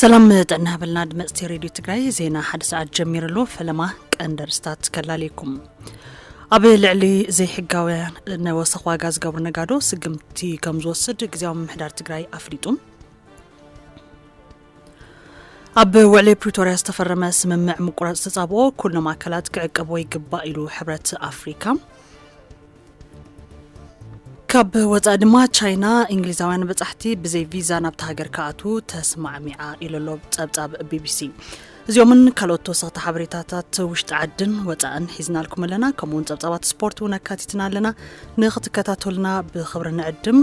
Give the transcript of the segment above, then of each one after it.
ሰላም ጥዕና ሃበልና ድመፅቲ ሬድዮ ትግራይ ዜና ሓደ ሰዓት ጀሚሩ ኣሎ ፈለማ ቀንዲ ርስታት ከላልየኩም ኣብ ልዕሊ ዘይሕጋውያን ነወሰኽ ዋጋ ዝገብሩ ነጋዶ ስግምቲ ከም ዝወስድ ግዜያዊ ምምሕዳር ትግራይ ኣፍሊጡ ኣብ ውዕሊ ፕሪቶርያ ዝተፈረመ ስምምዕ ምቁራፅ ተፃብኦ ኩሎም ኣካላት ክዕቀቦ ይግባእ ኢሉ ሕብረት ኣፍሪካ ካብ ወፃኢ ድማ ቻይና እንግሊዛውያን በፃሕቲ ብዘይ ቪዛ ናብቲ ሃገር ክኣትዉ ተስማዕሚዓ ኢሉ ኣሎ ፀብፃብ ቢቢሲ። እዚኦምን ካልኦት ተወሰኽቲ ሓበሬታታት ውሽጢ ዓድን ወፃእን ሒዝናልኩም ኣለና። ከምኡ እውን ፀብፃባት ስፖርት እውን ኣካቲትና ኣለና። ንክትከታተሉና ብክብሪ ንዕድም።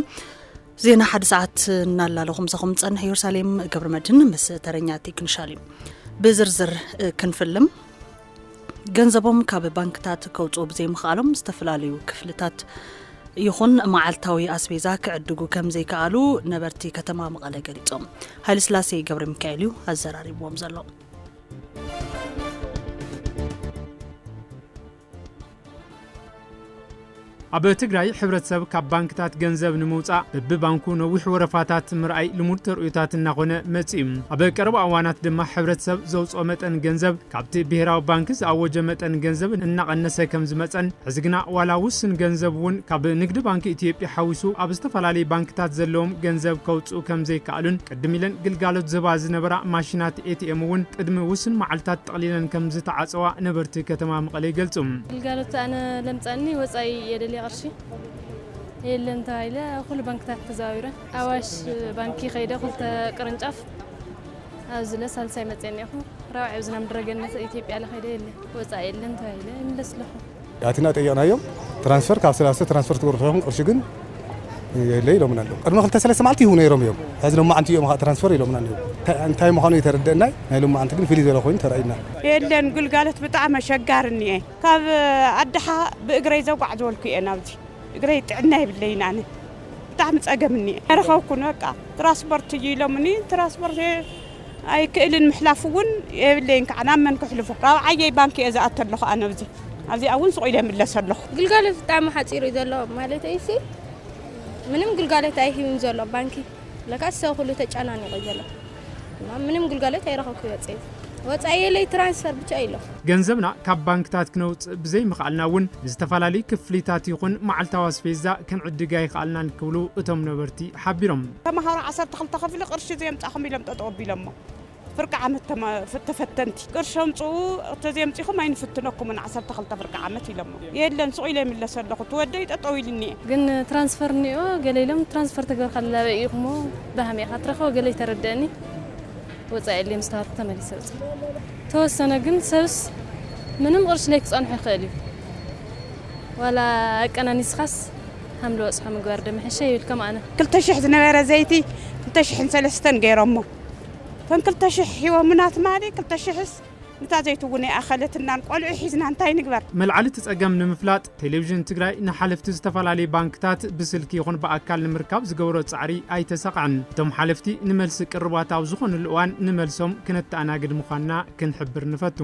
ዜና ሓደ ሰዓት እናላለኹ ምሳኹም ዝፀንሕ ኢየሩሳሌም ገብረ መድህን ምስ ተረኛ ቴክኒሻል እዩ። ብዝርዝር ክንፍልም ገንዘቦም ካብ ባንክታት ከውፅኡ ብዘይምኽኣሎም ዝተፈላለዩ ክፍልታት ይኹን መዓልታዊ ኣስቤዛ ክዕድጉ ከም ዘይከኣሉ ነበርቲ ከተማ መቐለ ገሊፆም። ሃይለስላሴ ገብረ ሚካኤል እዩ ኣዘራሪብዎም ዘሎ። ኣብ ትግራይ ሕብረተሰብ ካብ ባንክታት ገንዘብ ንምውፃእ በብባንኩ ነዊሕ ወረፋታት ምርኣይ ልሙድ ተርእዮታት እናኾነ መፂኡ። ኣብ ቀረባ እዋናት ድማ ሕብረተሰብ ዘውፅኦ መጠን ገንዘብ ካብቲ ብሄራዊ ባንኪ ዝኣወጀ መጠን ገንዘብ እናቐነሰ ከምዝመፀን ሕዚ ግና ዋላ ውስን ገንዘብ እውን ካብ ንግዲ ባንኪ ኢትዮጵያ ሓዊሱ ኣብ ዝተፈላለዩ ባንክታት ዘለዎም ገንዘብ ከውፅኡ ከምዘይከኣሉን ቅድም ኢለን ግልጋሎት ዝህባ ዝነበራ ማሽናት ኤቲኤም እውን ቅድሚ ውሱን መዓልታት ጠቕሊለን ከምዝተዓፀዋ ነበርቲ ከተማ መቐለ ይገልፁ። ግልጋሎት ኣነ ለምፃኒ ወፃኢ የደልየ ቅርሺ የለን ተባሂለ ኣብ ኩሉ ባንክታት ተዘዋዊረ ኣዋሽ ባንኪ ከይደ ክልተ ቅርንጫፍ ኣብዚ ለ ሳልሳይ መፅየ እኒኦኹ ራብዓይ ኣብዚ ናብ ምድረገነት ኢትዮጵያ ለኸይደ የለን ወፃኢ የለን ተባሂለ ይምለስ ኣለኹ። ኣቲና ጠይቕናዮም ትራንስፈር ካብ ሰላስተ ትራንስፈር ትገብሩ ኢኹም ቅርሺ ግን የለ ኢሎምና ኣለዉ ቅድሚ ክልተ ሰለስተ መዓልቲ ይህቡ ነይሮም እዮም ሕዚ ሎማዓንቲ እዮም ከዓ ትራንስፈር ኢሎምና ኣለዉ እንታይ ምዃኑ የተረደእናይ ናይ ሎማዓንቲ ግን ፍልይ ዝበለ ኮይኑ ተራእዩና የለን ግልጋሎት ብጣዕሚ ኣሸጋሪ እኒአ ካብ ኣድሓ ብእግረይ ዘጓዕዘወልኩ እየ ናብዚ እግረይ ጥዕና የብለይን ኣነ ብጣዕሚ ፀገም እኒአ ኣይረኸብኩን በቃ ትራንስፖርት እዩ ኢሎምኒ ትራንስፖርት ኣይክእልን ምሕላፍ እውን የብለይን ከዓ ናብ መን ክሕልፎ ካብ ዓየይ ባንኪ እየ ዝኣቱ ኣለኹ ኣነ ኣብዚ ኣብዚኣ እውን ስቑ ኢለ ይምለስ ኣለኹ። ግልጋሎት ብጣዕሚ ሓፂሩ እዩ ዘሎ ማለተይሲ ምንም ግልጋሎት ኣይህብን ዘሎ ባንኪ ለካስ ሰብ ኩሉ ተጨናኒቑ እዩ ዘሎ እና ምንም ግልጋሎት ኣይረኸብኩ ወፀይ ወፃኢየለይ ትራንስፈር ብቻ እዩ ኣሎ። ገንዘብና ካብ ባንክታት ክነውፅእ ብዘይምኽኣልና እውን ንዝተፈላለዩ ክፍሊታት ይኹን መዓልታዊ ኣስፌዛ ክንዕድግ ኣይኸኣልናን ክብሉ እቶም ነበርቲ ሓቢሮም። ተምሃሮ ዓሰርተ ክልተ ክፍሊ ቅርሺ ዘየምፃእኹም ኢሎም ጠጠው ኣቢሎሞ። ፍርቂ ዓመት ተፈተንቲ ቅርሺ ኣምፅኡ ተዘየምፂእኹም ኣይንፍትነኩምን ዓሰርተ ክልተ ፍርቂ ዓመት ኢሎሞ። የለን ሱቕ ኢለ ይምለስ ኣለኹ እቲ ወደይ ጠጠው ኢሉ እኒኤ። ግን ትራንስፈር እኒኦ ገለ ኢሎም ትራንስፈር ተገበርካሉ ኣበይ ኢኹሞ በሃመይ ኢኻ ትረኽቦ ገለ ይተረደእኒ ወፃኢ ኣልየ ምስ ተባልኩ ተመሊሰ ወፂ ተወሰነ ግን ሰብስ ምንም ቅርሺ ለይክፀንሖ ይኽእል እዩ ዋላ ኣቀናኒስኻስ። ሃም ልበጽሖ ምግባር ዶ ምሕሸ ይብል ከም ኣነ። ክልተ ሽሕ ዝነበረ ዘይቲ ክልተ ሽሕን ሰለስተን ገይሮሞ እተን ክልተ ሽሕ ሂቦምና ትማሊ ክልተ ሽሕስ ንታ ዘይቲ እውን ኣይኣኸለትናን ቆልዑ ሒዝና እንታይ ንግበር። መልዓሊ እቲ ፀገም ንምፍላጥ ቴሌቪዥን ትግራይ ንሓለፍቲ ዝተፈላለዩ ባንክታት ብስልኪ ይኹን ብኣካል ንምርካብ ዝገበሮ ፃዕሪ ኣይተሳኽዐን። እቶም ሓለፍቲ ንመልሲ ቅርባት ኣብ ዝኾንሉ እዋን ንመልሶም ክነተኣናግድ ምዃንና ክንሕብር ንፈቱ።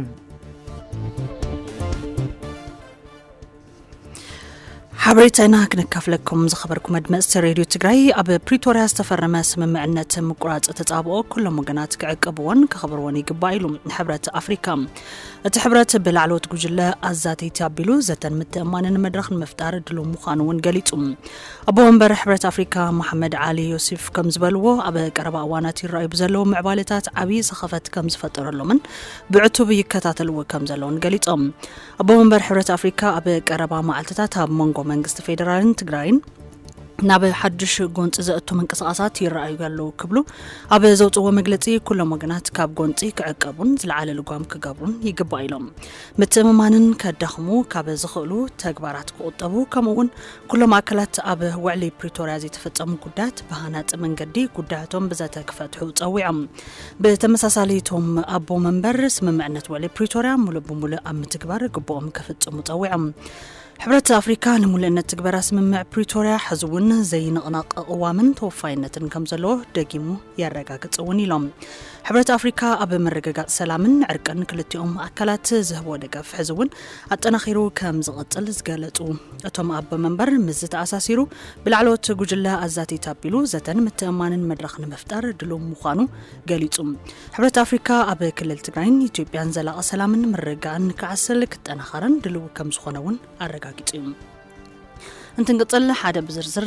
ሓበሬታና ክንካፍለኩም ዝኸበርኩም ኣድመፅቲ ሬድዮ ትግራይ ኣብ ፕሪቶርያ ዝተፈረመ ስምምዕነት ምቁራፅ ተፃብኦ ኩሎም ወገናት ክዕቅብዎን ከኽብርዎን ይግባእ ኢሉ ሕብረት ኣፍሪካ እቲ ሕብረት ብላዕለዎት ጉጅለ ኣዛተይቲ ኣቢሉ ዘተን ምትእማንን መድረኽ ንምፍጣር ድሉ ምዃኑ እውን ገሊፁ ኣቦ ወንበር ሕብረት ኣፍሪካ መሓመድ ዓሊ ዮሴፍ ከም ዝበልዎ ኣብ ቀረባ እዋናት ይረኣዩ ብዘለዉ ምዕባለታት ዓብዪ ሰኸፈት ከም ዝፈጠረሎምን ብዕቱብ ይከታተልዎ ከም ዘለውን ገሊፆም ኣቦ መንበር ሕብረት ኣፍሪካ ኣብ ቀረባ መዓልትታት ኣብ መንጎ መንግስቲ ፌዴራልን ትግራይን ናብ ሓዱሽ ጎንፂ ዘእቱ ምንቅስቓሳት ይረኣዩ ኣለዉ ክብሉ ኣብ ዘውፅዎ መግለፂ ኩሎም ወገናት ካብ ጎንፂ ክዕቀቡን ዝለዓለ ልጓም ክገብሩን ይግባእ ኢሎም ምትእምማንን ከዳኽሙ ካብ ዝኽእሉ ተግባራት ክቑጠቡ ከምኡውን ኩሎም ኣካላት ኣብ ውዕሊ ፕሪቶርያ ዘይተፈፀሙ ጉዳያት ብሃናፂ መንገዲ ጉዳያቶም ብዘተ ክፈትሑ ፀዊዖም። ብተመሳሳሊ እቶም ኣቦ መንበር ስምምዕነት ውዕሊ ፕሪቶርያ ሙሉእ ብሙሉእ ኣብ ምትግባር ግቡኦም ክፍፅሙ ፀዊዖም። ሕብረት ኣፍሪካ ንምሉእነት ትግበራ ስምምዕ ፕሪቶርያ ሕዚ እውን ዘይንቕነቕ ቅዋምን ተወፋይነትን ከም ዘለዎ ደጊሙ የረጋግፅ እውን ኢሎም። ሕብረት ኣፍሪካ ኣብ ምርግጋፅ ሰላምን ዕርቅን ክልቲኦም ኣካላት ዝህቦ ደገፍ ሕዚ እውን ኣጠናኺሩ ከም ዝቕፅል ዝገለፁ እቶም ኣቦ መንበር ምስዚ ተኣሳሲሩ ብላዕለዎት ጉጅለ ኣዛቲት ኣቢሉ ዘተን ምትእማንን መድረኽ ንምፍጣር ድሉው ምዃኑ ገሊፁ። ሕብረት ኣፍሪካ ኣብ ክልል ትግራይን ኢትዮጵያን ዘላቒ ሰላምን ምርግጋእን ክዓስል ክጠናኸረን ድሉው ከም ዝኾነ እውን ኣረጋጊፁ እዩ። እንትንቅፅል ሓደ ብዝርዝር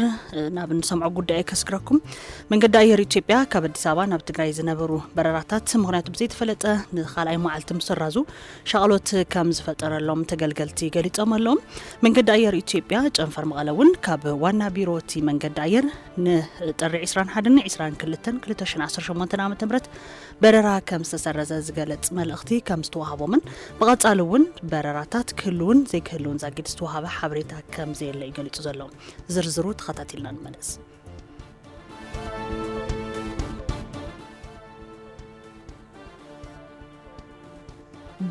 ናብ እንሰምዖ ጉዳይ ከስግረኩም መንገዲ ኣየር ኢትዮጵያ ካብ ኣዲስ ኣበባ ናብ ትግራይ ዝነበሩ በረራታት ምክንያቱ ብዘይተፈለጠ ንካልኣይ መዓልቲ ምስራዙ ሻቕሎት ከም ዝፈጠረሎም ተገልገልቲ ገሊፆም ኣለዉ መንገዲ ኣየር ኢትዮጵያ ጨንፈር መቐለ እውን ካብ ዋና ቢሮ እቲ መንገዲ ኣየር ንጥሪ 21 ን 22 2018 ዓ ም በረራ ከም ዝተሰረዘ ዝገለፅ መልእኽቲ ከም ዝተዋሃቦምን ብቐፃሊ እውን በረራታት ክህልውን ዘይክህልውን ዛጊድ ዝተዋሃበ ሓበሬታ ከም ዘየለ እዩ ገሊፁ ዘሎ። ዝርዝሩ ተኸታቲልና ንመለስ።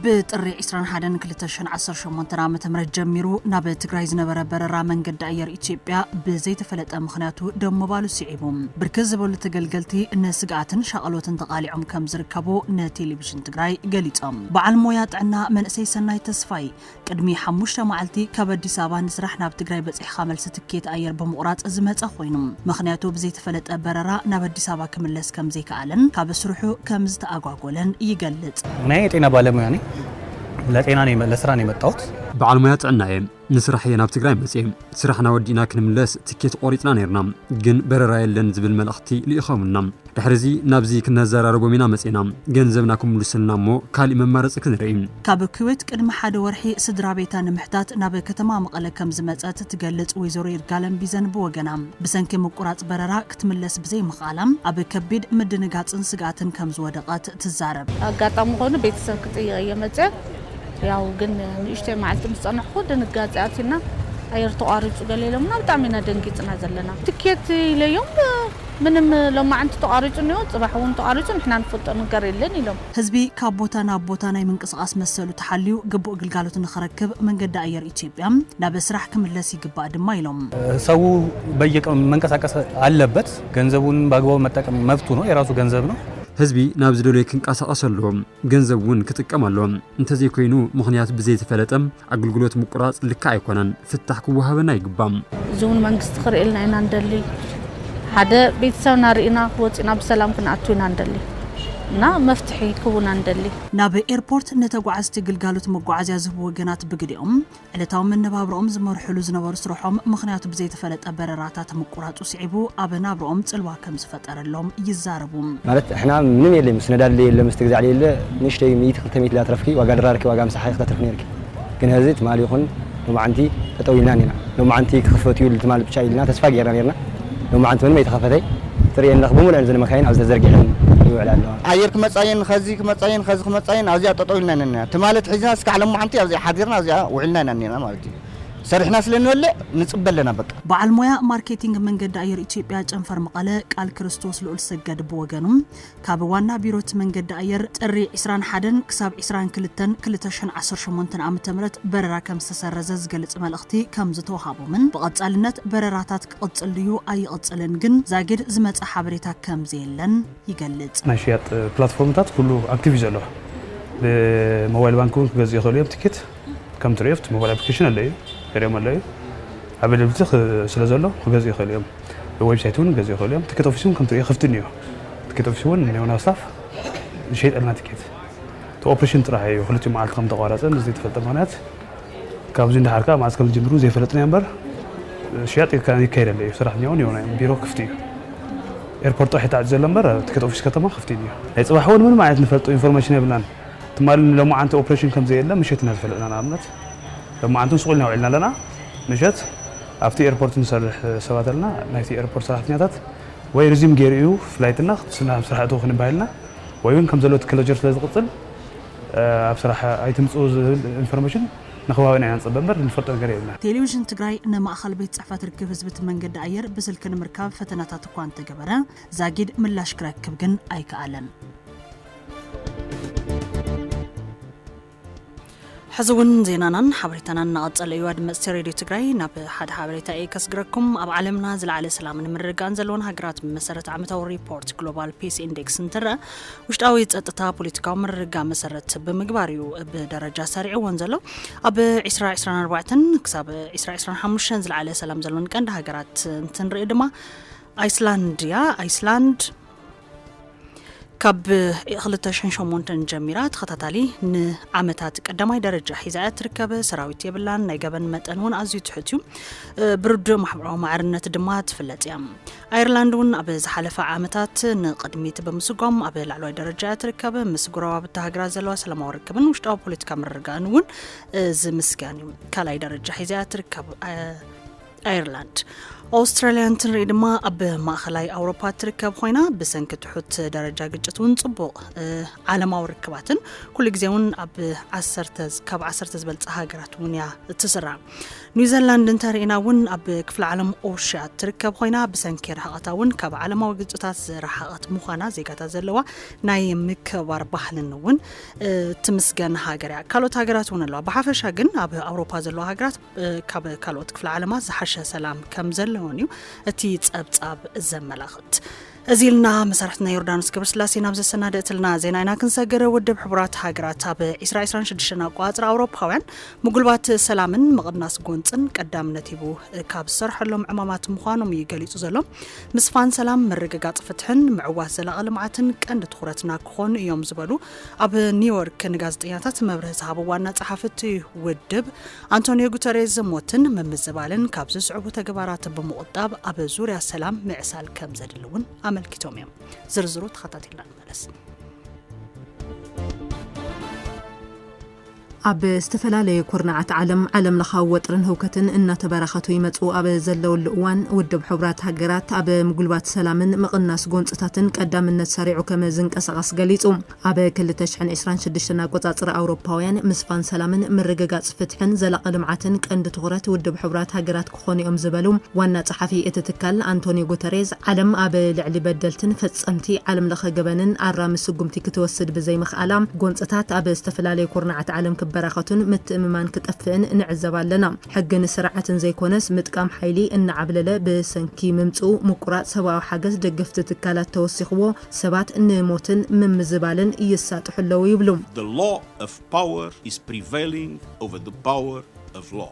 ብጥሪ 21 2018 ዓ ም ጀሚሩ ናብ ትግራይ ዝነበረ በረራ መንገዲ ኣየር ኢትዮጵያ ብዘይተፈለጠ ምኽንያቱ ደው ምባሉ ስዒቡ ብርክት ዝበሉ ተገልገልቲ ንስግኣትን ሻቐሎትን ተቓሊዖም ከም ዝርከቡ ንቴሌቪዥን ትግራይ ገሊፆም። በዓል ሞያ ጥዕና መንእሰይ ሰናይ ተስፋይ ቅድሚ ሓሙሽተ መዓልቲ ካብ ኣዲስ ኣበባ ንስራሕ ናብ ትግራይ በጺሕኻ መልሲ ትኬት ኣየር ብምቑራጽ ዝመጸ ኮይኑ ምኽንያቱ ብዘይተፈለጠ በረራ ናብ ኣዲስ ኣበባ ክምለስ ከምዘይከኣለን ካብ ስርሑ ከምዝተኣጓጎለን ይገልጽ። ናይ የጤና ባለሙያ ነይ ለጤና ነይ ለስራ ነይ መጣወት። በዓል ሞያ ጥዕና እየ ንስራሕ እየ ናብ ትግራይ መፅየ ስራሕና ወዲእና ክንምለስ ትኬት ቆሪፅና ነይርና ግን በረራ የለን ዝብል መልእኽቲ ልኢኸሙና ድሕሪዚ ናብዚ ክነዘራርቦም ኢና መጺእና ገንዘብና ክምሉስልና እሞ ካሊእ መማረጺ ክንርኢ። ካብ ኩዌት ቅድሚ ሓደ ወርሒ ስድራቤታ ንምሕታት ናብ ከተማ መቐለ ከምዝመጸት ትገልጽ ወይዘሮ ይርጋለም ቢዘን ብወገና፣ ብሰንኪ ምቁራጽ በረራ ክትምለስ ብዘይምኽኣላ ኣብ ከቢድ ምድንጋጽን ስግኣትን ከምዝወደቐት ትዛረብ። ኣጋጣሚ ኮይኑ ቤተሰብ ክጥይቕ እየ መጸ ያው ግን ንእሽተይ መዓልቲ ምስ ጸናሕኩ ድንጋጸ ኣትዩና ኣየር ተቋሪጹ ገለ ኢሎምና ብጣዕሚ ኢና ደንጊጽና ዘለና ትኬት ኢለዮም ምንም ሎማዕንቲ ተቛሪፁ እኒኦ ፅባሕ እውን ተቛሪፁ ንሕና ንፈልጦ ነገር የለን ኢሎም። ህዝቢ ካብ ቦታ ናብ ቦታ ናይ ምንቅስቓስ መሰሉ ተሓልዩ ግቡእ ግልጋሎት ንኽረክብ መንገዲ ኣየር ኢትዮጵያ ናብ ስራሕ ክምለስ ይግባእ ድማ ኢሎም። ሰው በየቀኑ መንቀሳቀስ ኣለበት ገንዘቡን በኣግባቡ መጠቀም መብቱ ነው የራሱ ገንዘብ ነው። ህዝቢ ናብ ዝደለዮ ክንቀሳቀስ ኣለዎ ገንዘብ እውን ክጥቀም ኣለዎ እንተዘይኮይኑ ምኽንያቱ ብዘይተፈለጠ ኣገልግሎት ምቁራጽ ልክዕ ኣይኮነን፣ ፍታሕ ክወሃበና ይግባእ። እዚ እውን መንግስቲ ክርእየልና ኢና ንደሊ። ሓደ ቤተሰብና ርኢና ወፂና ብሰላም ክንኣቱ ኢና ንደሊ እና መፍትሒ ክቡና ንደሊ። ናብ ኤርፖርት ንተጓዓዝቲ ግልጋሎት መጓዓዝያ ዝህቡ ወገናት ብግዴኦም ዕለታዊ መነባብሮኦም ዝመርሕሉ ዝነበሩ ስርሖም ምኽንያቱ ብዘይተፈለጠ በረራታት ምቁራፁ ስዒቡ ኣብ ናብርኦም ጽልዋ ከም ዝፈጠረሎም ይዛረቡ። ማለት ንሕና ምንም የለይ ምስ ነዳዲ ለየለ ምስ ትግዛዕ ለየለ ንእሽተይ ሚእቲ ክልተ ሚእቲ ላትረፍኪ ዋጋ ድራርኪ ዋጋ ምሳሓኪ ክተትርፊ ነይርኪ ግን ሀዚ ትማሊ ይኹን ሎማዓንቲ ጠጠው ኢልና ኔርና ሎማዓንቲ ክኽፈት እዩ ትማሊ ብቻ ኢልና ተስፋ ጌርና ኔርና ሎማዓንቲ ምንም ኣይተኸፈተይ ትርእየንለኺ ብሙሉኤን እዘን መካይን ኣብዚ ተዘርጊሐን ይውዕላ ኣለዋ። ኣየር ክመጻ እየን ኸዚ ክመጻ እየን ኸዚ ክመጻ እየን ኣብዚኣ ጠጠው ኢልና ኢና ኔርና ትማሊ ኣትሒዝና እስካዕ ሎማዓንቲ ኣብዚኣ ሓዲርና ኣብዚኣ ውዒልና ኢና ኔርና ማለት እዩ። ሰሪሕና ስለ ንበልዕ ንፅበ ኣለና በቃ። በዓል ሞያ ማርኬቲንግ መንገዲ ኣየር ኢትዮጵያ ጨንፈር መቐለ ቃል ክርስቶስ ልኡልሰገድ ብወገኑ፣ ካብ ዋና ቢሮ እቲ መንገዲ ኣየር ጥሪ ዕስራን ሓደን ክሳብ ዕስራን ክልተን ክልተ ሽሕን ዓሰርተ ሸሞንተን ዓመተ ምህረት በረራ ከምዝተሰረዘ ዝገልፅ መልእኽቲ ከምዝተውሃቦምን ብቐፃልነት በረራታት ክቕፅል ድዩ ኣይቕፅልን ግን ዛጊድ ዝመፀ ሓበሬታ ከምዘየለን ይገልፅ። ናይ ሽያጥ ፕላትፎርምታት ኩሉ ኣክቲቭ እዩ ዘሎ ብሞባይል ባንክ እውን ክገዝኡ ይኽእሉ እዮም ትኬት። ከም ትርእዮ ኣብቲ ሞባይል ኣፕሊኬሽን ኣሎ እዩ ገሊኦም ኣሎ እዩ ኣቬለብሊቲ ስለ ዘሎ ክገዝኡ ይኽእሉ እዮም ዌብሳይት እውን ክገዝኡ ይኽእሉ እዮም ትኬት ኦፊስ እውን ከም ትርእዮ ክፍቲ እኒኦ ትኬት ኦፊስ እውን ኔውና ስታፍ ዝሸይጠልና ትኬት እቲ ኦፕሬሽን ጥራሕ እዩ ክልቲኡ መዓልቲ ከም ተቋረፀ ንዘይተፈልጠ ምክንያት ካብዚ እንዳሓር ከዓ መዓዝ ከም ዝጅምሩ ዘይፈለጥና እምበር ሽያጥ ይካየድ ኣሎ እዩ ሰራሕተኛ እውን የውና እዮም ቢሮ ክፍቲ እዩ ኤርፖርት ጥራሕ ተዓፂ ዘሎ እምበር ትኬት ኦፊስ ከተማ ክፍቲ እዩ ናይ ፅባሕ እውን ምንም ዓይነት ንፈልጦ ኢንፎርሜሽን የብልናን ትማሊ ንሎማዓንቲ ኦፕሬሽን ከምዘየለ ምሸት ኢና ዝፈለጥና። ንኣብነት ሎማዓንቲ ምስ ቁልና ውዒልና ኣለና። ምሸት ኣብቲ ኤርፖርት ንሰርሕ ሰባት ኣለና። ናይቲ ኤርፖርት ሰራሕተኛታት ወይ ሪዚዩም ገይሩ እዩ ፍላይትና ክትስና ኣብ ስራሕ እትዉ ክንባሃልና ወይ ውን ከምዘሎ እቲ ክሎጀር ስለዝቕፅል ኣብ ስራሕ ኣይትምፅኡ ዝብል ኢንፎርሜሽን ንከባቢና ኢና ንፅበ እምበር ንፈልጦ ነገር የብልናን። ቴሌቪዥን ትግራይ ንማእኸል ቤት ፅሕፈት ርክብ ህዝቢ እቲ መንገዲ ኣየር ብስልኪ ንምርካብ ፈተናታት እኳ እንተገበረ ዛጊድ ምላሽ ክረክብ ግን ኣይከኣለን። ሕዚ እውን ዜናናን ሓበሬታናን እናቐጸለ እዩ ኣድመጽቲ ሬድዮ ትግራይ ናብ ሓደ ሓበሬታ እየ ከስግረኩም ኣብ ዓለምና ዝለዓለ ሰላምን ምርግጋእን ዘለዎን ሃገራት ብመሰረት ዓመታዊ ሪፖርት ግሎባል ፒስ ኢንዴክስ እንትረአ ውሽጣዊ ጸጥታ ፖለቲካዊ ምርግጋ መሰረት ብምግባር እዩ ብደረጃ ሰሪዕዎን ዘሎ ኣብ 2024 ክሳብ 2025 ዝለዓለ ሰላም ዘለዎን ቀንዲ ሃገራት እንትንርኢ ድማ ኣይስላንድ እያ ኣይስላንድ ካብ 2008 ጀሚራ ተኸታታሊ ንዓመታት ቀዳማይ ደረጃ ሒዛ እያ ትርከብ ሰራዊት የብላን ናይ ገበን መጠን እውን ኣዝዩ ትሑት እዩ ብርዱእ ማሕበራዊ ማዕርነት ድማ ትፍለጥ እያ ኣየርላንድ እውን ኣብ ዝሓለፈ ዓመታት ንቅድሚት ብምስጓም ኣብ ላዕለዋይ ደረጃ እያ ትርከብ ምስ ጉረባብቲ ሃገራት ዘለዋ ሰላማዊ ርክብን ውሽጣዊ ፖለቲካ ምርርጋእን እውን ዝምስገን እዩ ካልኣይ ደረጃ ሒዛ እያ ትርከብ ኣይርላንድ ኣውስትራልያ እንትንርኢ ድማ ኣብ ማእኸላይ ኣውሮፓ እትርከብ ኮይና ብሰንኪ ትሑት ደረጃ ግጭት እውን ፅቡቕ ዓለማዊ ርክባትን ኩሉ ግዜ እውን ኣብ ካብ ዓሰርተ ዝበልፀ ሃገራት እውን እያ እትስራ ኒውዘላንድ እንተርእና እውን ኣብ ክፍሊ ዓለም ኦሽያ እትርከብ ኮይና ብሰንኪ ርሕቐታ እውን ካብ ዓለማዊ ግጭታት ዝረሓቐት ምዃና ዜጋታት ዘለዋ ናይ ምክባር ባህልን እውን ትምስገን ሃገር እያ ካልኦት ሃገራት እውን ኣለዋ ብሓፈሻ ግን ኣብ ኣውሮፓ ዘለዋ ሃገራት ካብ ካልኦት ክፍለ ዓለማት ዝሓሸ ሰላም ከም ዘለዎን እዩ እቲ ጸብጻብ ዘመላኽት እዚ ኢልና መሳርሕትና ዮርዳኖስ ገብርስላሴ ናብ ዘሰናደእትልና ዜና ኢና ክንሰገረ ውድብ ሕቡራት ሃገራት ኣብ 226 ኣቋፅሪ ኣውሮፓውያን ምጉልባት ሰላምን ምቕናስ ጎንፅን ቀዳምነት ሂቡ ካብ ዝሰርሐሎም ዕማማት ምዃኖም እዩ ገሊፁ ዘሎ ምስፋን ሰላም ምርግጋፅ ፍትሕን ምዕዋት ዘላቐ ልምዓትን ቀንዲ ትኩረትና ክኾኑ እዮም ዝበሉ ኣብ ኒውዮርክ ንጋዜጠኛታት መብርህ ዝሃቡ ዋና ጸሓፊ እቲ ውድብ ኣንቶኒዮ ጉተሬዝ ሞትን ምምዝባልን ካብ ዝስዕቡ ተግባራት ብምቑጣብ ኣብ ዙርያ ሰላም ምዕሳል ከም ዘድሊ እውን ኣመልኪቶም እዮም። ዝርዝሩ ተኸታቲልና ንመለስ። ኣብ ዝተፈላለዩ ኩርናዓት ዓለም ዓለም ለኻዊ ወጥርን ህውከትን እናተበራኸቱ ይመጹ ኣብ ዘለውሉ እዋን፣ ውድብ ሕቡራት ሃገራት ኣብ ምጉልባት ሰላምን ምቕናስ ጎንጽታትን ቀዳምነት ሰሪዑ ከም ዝንቀሳቐስ ገሊጹ። ኣብ ክልተ ሽሕን ዕስራን ሽዱሽተን ኣቆጻጽራ ኣውሮፓውያን፣ ምስፋን ሰላምን ምርግጋጽ ፍትሕን ዘላቒ ልምዓትን ቀንዲ ትኹረት ውድብ ሕቡራት ሃገራት ክኾኑ'ዮም ዝበሉ ዋና ጸሓፊ እቲ ትካል ኣንቶንዮ ጉተሬዝ፣ ዓለም ኣብ ልዕሊ በደልትን ፈጸምቲ ዓለምለኸ ገበንን ኣራሚ ስጉምቲ ክትወስድ ብዘይምኽኣላ፣ ጎንጽታት ኣብ ዝተፈላለዩ ኩርናዓት ዓለም ክበራኸቱን ምትእምማን ክጠፍእን ንዕዘብ ኣለና። ሕግን ስርዓትን ዘይኮነስ ምጥቃም ሓይሊ እናዓብለለ ብሰንኪ ምምጽኡ፣ ምቁራጽ ሰብኣዊ ሓገዝ ደገፍቲ ትካላት ተወሲኽዎ ሰባት ንሞትን ምምዝባልን ይሳጥሑ ኣለዉ ይብሉ። The law of power is prevailing over the power of law።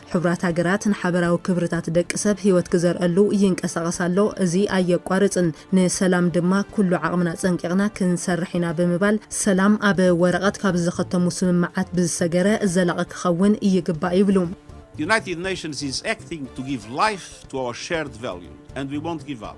ሕቡራት ሃገራት ንሓበራዊ ክብርታት ደቂ ሰብ ህይወት ክዘርኣሉ ይንቀሳቐስ ኣሎ፣ እዚ ኣየቋርጽን፣ ንሰላም ድማ ኩሉ ዓቕምና ጸንቂቕና ክንሰርሕ ኢና ብምባል፣ ሰላም ኣብ ወረቐት ካብ ዘኸተሙ ስምምዓት ብዝሰገረ ዘላቒ ክኸውን ይግባእ ይብሉ። United Nations is acting to give life to our shared values and we won't give up!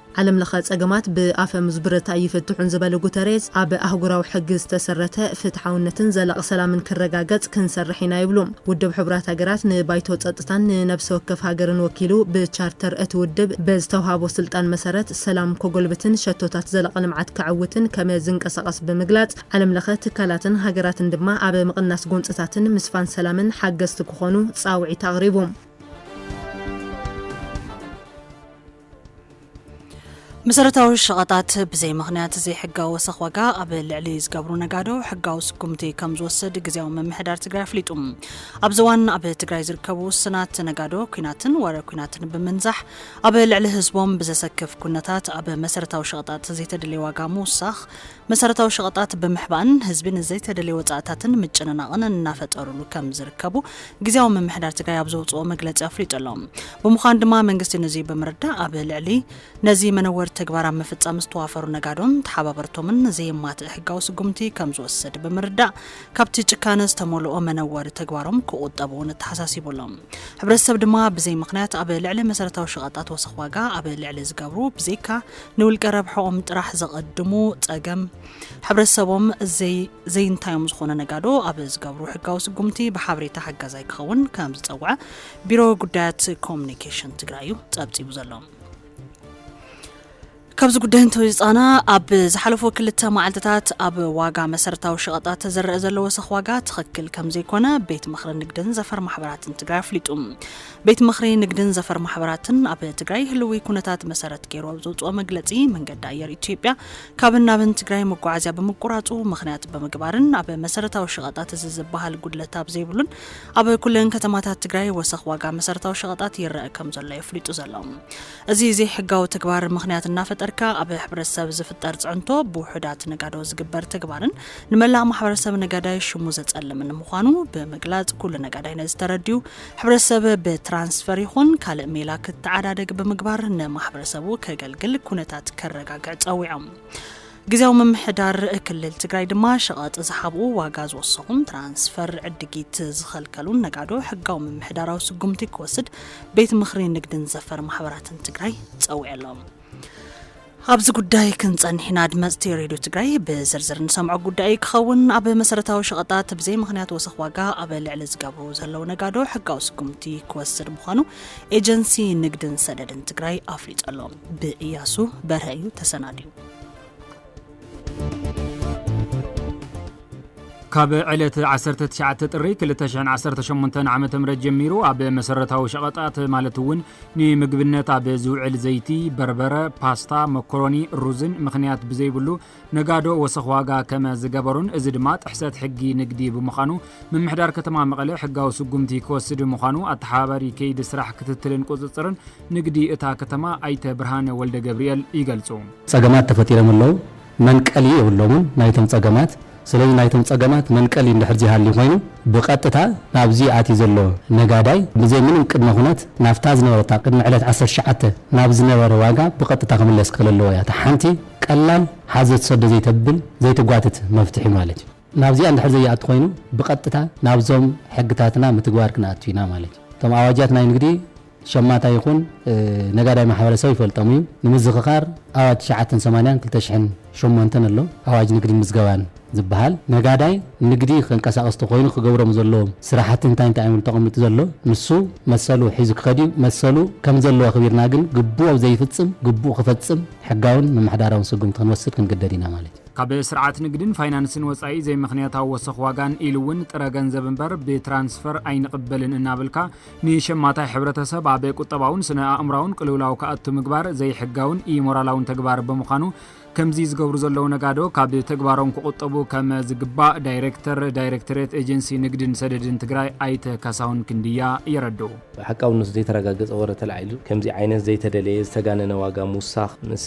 ዓለም ለኸ ፀገማት ብኣፈሙዝ ብረት ኣይፍትሑን ዝበለ ጉተሬዝ፣ ኣብ ኣህጉራዊ ሕጊ ዝተሰረተ ፍትሓውነትን ዘላቒ ሰላምን ክረጋገፅ ክንሰርሕ ኢና ይብሉ። ውድብ ሕቡራት ሃገራት ንባይቶ ፀጥታን ንነብሲ ወከፍ ሃገርን ወኪሉ ብቻርተር እቲ ውድብ ብዝተውሃቦ ስልጣን መሰረት ሰላም ከጎልብትን ሸቶታት ዘላቒ ልምዓት ከዐውትን ከመ ዝንቀሳቐስ ብምግላፅ ዓለም ለኸ ትካላትን ሃገራትን ድማ ኣብ ምቕናስ ጎንፅታትን ምስፋን ሰላምን ሓገዝቲ ክኾኑ ፃውዒት ኣቕሪቡ። መሰረታዊ ሸቐጣት ብዘይ ምኽንያት ዘይሕጋዊ ወሰኽ ዋጋ ኣብ ልዕሊ ዝገብሩ ነጋዶ ሕጋዊ ስጉምቲ ከም ዝወስድ ግዜያዊ ምምሕዳር ትግራይ ኣፍሊጡ። ኣብዚ እዋን ኣብ ትግራይ ዝርከቡ ውስናት ነጋዶ ኩናትን ወረ ኩናትን ብምንዛሕ ኣብ ልዕሊ ህዝቦም ብዘሰክፍ ኩነታት ኣብ መሰረታዊ ሸቐጣት ዘይተደለየ ዋጋ ምውሳኽ መሰረታዊ ሸቐጣት ብምሕባእን ህዝቢ ንዘይተደልየ ወፃእታትን ምጭንናቕን እናፈጠሩሉ ከም ዝርከቡ ግዝያዊ ምምሕዳር ትግራይ ኣብ ዘውፅኦ መግለፂ ኣፍሊጡ ኣሎ። ብምዃኑ ድማ መንግስቲ ንዙይ ብምርዳእ ኣብ ልዕሊ ነዚ መነወሪ ተግባር ኣብ ምፍፃም ዝተዋፈሩ ነጋዶን ተሓባበርቶምን ዘየማትእ ሕጋዊ ስጉምቲ ከም ዝወስድ ብምርዳእ ካብቲ ጭካነ ዝተመልኦ መነወሪ ተግባሮም ክቑጠቡ እውን ኣተሓሳሲቡ ኣሎ። ሕብረተሰብ ድማ ብዘይ ምኽንያት ኣብ ልዕሊ መሰረታዊ ሸቐጣት ወሰኽ ዋጋ ኣብ ልዕሊ ዝገብሩ ብዘይካ ንውልቀ ረብሐኦም ጥራሕ ዘቐድሙ ጸገም ሕብረተሰቦም ዘይንታዮም ዝኾነ ነጋዶ ኣብ ዝገብሩ ሕጋዊ ስጉምቲ ብሓበሬታ ሓጋዛይ ክኸውን ከም ዝጸውዐ ቢሮ ጉዳያት ኮሚኒኬሽን ትግራይ እዩ ጸብጺቡ ዘሎ። ካብዚ ጉዳይ እንተወፃና ኣብ ዝሓለፉ ክልተ መዓልትታት ኣብ ዋጋ መሰረታዊ ሸቐጣት ተዘረአ ዘሎ ወሰኽ ዋጋ ትኽክል ከም ዘይኮነ ቤት ምኽሪ ንግድን ዘፈር ማሕበራትን ትግራይ ኣፍሊጡ ቤት ምኽሪ ንግድን ዘፈር ማሕበራትን ኣብ ትግራይ ህልዊ ኩነታት መሰረት ገይሩ ኣብ ዘውፅኦ መግለፂ መንገዲ ኣየር ኢትዮጵያ ካብን ናብን ትግራይ መጓዓዝያ ብምቁራፁ ምኽንያት ብምግባርን ኣብ መሰረታዊ ሸቐጣት እዚ ዝበሃል ጉድለት ኣብ ዘይብሉን ኣብ ኩለን ከተማታት ትግራይ ወሰኽ ዋጋ መሰረታዊ ሸቐጣት ይረአ ከም ዘሎ የፍሊጡ ዘሎ እዚ ዘይሕጋዊ ተግባር ምኽንያት እናፈጠርካ ኣብ ሕብረተሰብ ዝፍጠር ፅዕንቶ ብውሑዳት ነጋዶ ዝግበር ተግባርን ንመላእ ማሕበረሰብ ነጋዳይ ሽሙ ዘፀልምን ምዃኑ ብምግላፅ ኩሉ ነጋዳይ ነዚ ተረዲኡ ሕብረተሰብ ብትራንስፈር ይኹን ካልእ ሜላ ክተዓዳደግ ብምግባር ንማሕበረሰቡ ከገልግል ኩነታት ከረጋግዕ ጸዊዖም። ግዜያዊ ምምሕዳር ክልል ትግራይ ድማ ሸቐጥ ዝሓብኡ፣ ዋጋ ዝወሰኹን ትራንስፈር ዕድጊት ዝኸልከሉን ነጋዶ ሕጋዊ ምምሕዳራዊ ስጉምቲ ክወስድ ቤት ምኽሪ ንግድን ዘፈር ማሕበራትን ትግራይ ጸዊዑ ኣሎ። ኣብዚ ጉዳይ ክንጸንሕ ኢና። ኣድመጽቲ ሬድዮ ትግራይ ብዝርዝር ንሰምዖ ጉዳይ እዩ ክኸውን። ኣብ መሰረታዊ ሸቐጣት ብዘይ ምኽንያት ወሰኽ ዋጋ ኣብ ልዕሊ ዝገብሩ ዘለዉ ነጋዶ ሕጋዊ ስጉምቲ ክወስድ ምዃኑ ኤጀንሲ ንግድን ሰደድን ትግራይ ኣፍሊጡ ኣሎ። ብእያሱ በርሀ እዩ ተሰናድዩ። ካብ ዕለት 19 ጥሪ 2018 ዓ ም ጀሚሩ ኣብ መሰረታዊ ሸቐጣት ማለት እውን ንምግብነት ኣብ ዝውዕል ዘይቲ፣ በርበረ፣ ፓስታ፣ መኮሮኒ፣ ሩዝን ምኽንያት ብዘይብሉ ነጋዶ ወሰኽ ዋጋ ከመ ዝገበሩን እዚ ድማ ጥሕሰት ሕጊ ንግዲ ብምዃኑ ምምሕዳር ከተማ መቐለ ሕጋዊ ስጉምቲ ክወስድ ምዃኑ ኣተሓባባሪ ከይዲ ስራሕ ክትትልን ቁፅፅርን ንግዲ እታ ከተማ ኣይተ ብርሃነ ወልደገብሪኤል ይገልፁ። ፀገማት ተፈጢሮም ኣለው። መንቀሊ የብሎምን ናይቶም ጸገማት። ስለዚ ናይቶም ጸገማት መንቀሊ እንድሕር ዘይሃልዩ ኮይኑ ብቐጥታ ናብዚ ኣትዩ ዘሎ ነጋዳይ ብዘይ ምንም ቅድመ ኩነት ናብታ ዝነበረታ ቅድሚ ዕለት ዓሰርተ ትሽዓተ ናብ ዝነበረ ዋጋ ብቐጥታ ክምለስ ክኽእል ኣለዎ እያ እታ ሓንቲ ቀላል ሓዘ ትሰዶ ዘይተብል ዘይትጓትት መፍትሒ ማለት እዩ። ናብዚኣ እንድሕር ዘይኣቱ ኮይኑ ብቐጥታ ናብዞም ሕግታትና ምትግባር ክንኣቱ ኢና ማለት እዩ። እቶም ኣዋጃት ናይ ንግዲ ሸማታይ ይኹን ነጋዳይ ማሕበረሰብ ይፈልጦም እዩ። ንምዝኽኻር ኣዋጅ ትሽዓተን ሰማንያን ክልተ ሽሕን ሸሞንተን ኣሎ። ኣዋጅ ንግድን ምዝገባን ዝብሃል ነጋዳይ ንግዲ ከንቀሳቕስ ተኾይኑ ክገብሮም ዘለዎም ስራሕቲ እንታይ እንታይ እዮም ኢሉ ተቐሚጡ ዘሎ ንሱ መሰሉ ሒዙ ክኸድ እዩ። መሰሉ ከምዘለዎ ኣኽቢርና ግን ግቡኡ ኣብዘይፍፅም ግቡኡ ክፈፅም ሕጋውን ምምሕዳራውን ስጉምቲ ክንወስድ ክንግደድ ኢና ማለት እዩ። ካብ ስርዓት ንግድን ፋይናንስን ወፃኢ ዘይምኽንያታዊ ወሰኽ ዋጋን ኢሉ እውን ጥረ ገንዘብ እምበር ብትራንስፈር ኣይንቕበልን እናበልካ ንሸማታይ ሕብረተሰብ ኣብ ቁጠባውን ስነ ኣእምራውን ቅልውላው ክኣቱ ምግባር ዘይሕጋውን ኢሞራላውን ተግባር ብምዃኑ ከምዚ ዝገብሩ ዘለዉ ነጋዶ ካብ ተግባሮም ክቑጠቡ ከም ዝግባእ ዳይሬክተር ዳይሬክቶሬት ኤጀንሲ ንግድን ሰደድን ትግራይ ኣይተ ካሳሁን ክንድያ የረድኡ። ሓቃውነቱ ዘይተረጋገጸ ወረ ተላዒሉ ከምዚ ዓይነት ዘይተደለየ ዝተጋነነ ዋጋ ምውሳኽ ምስ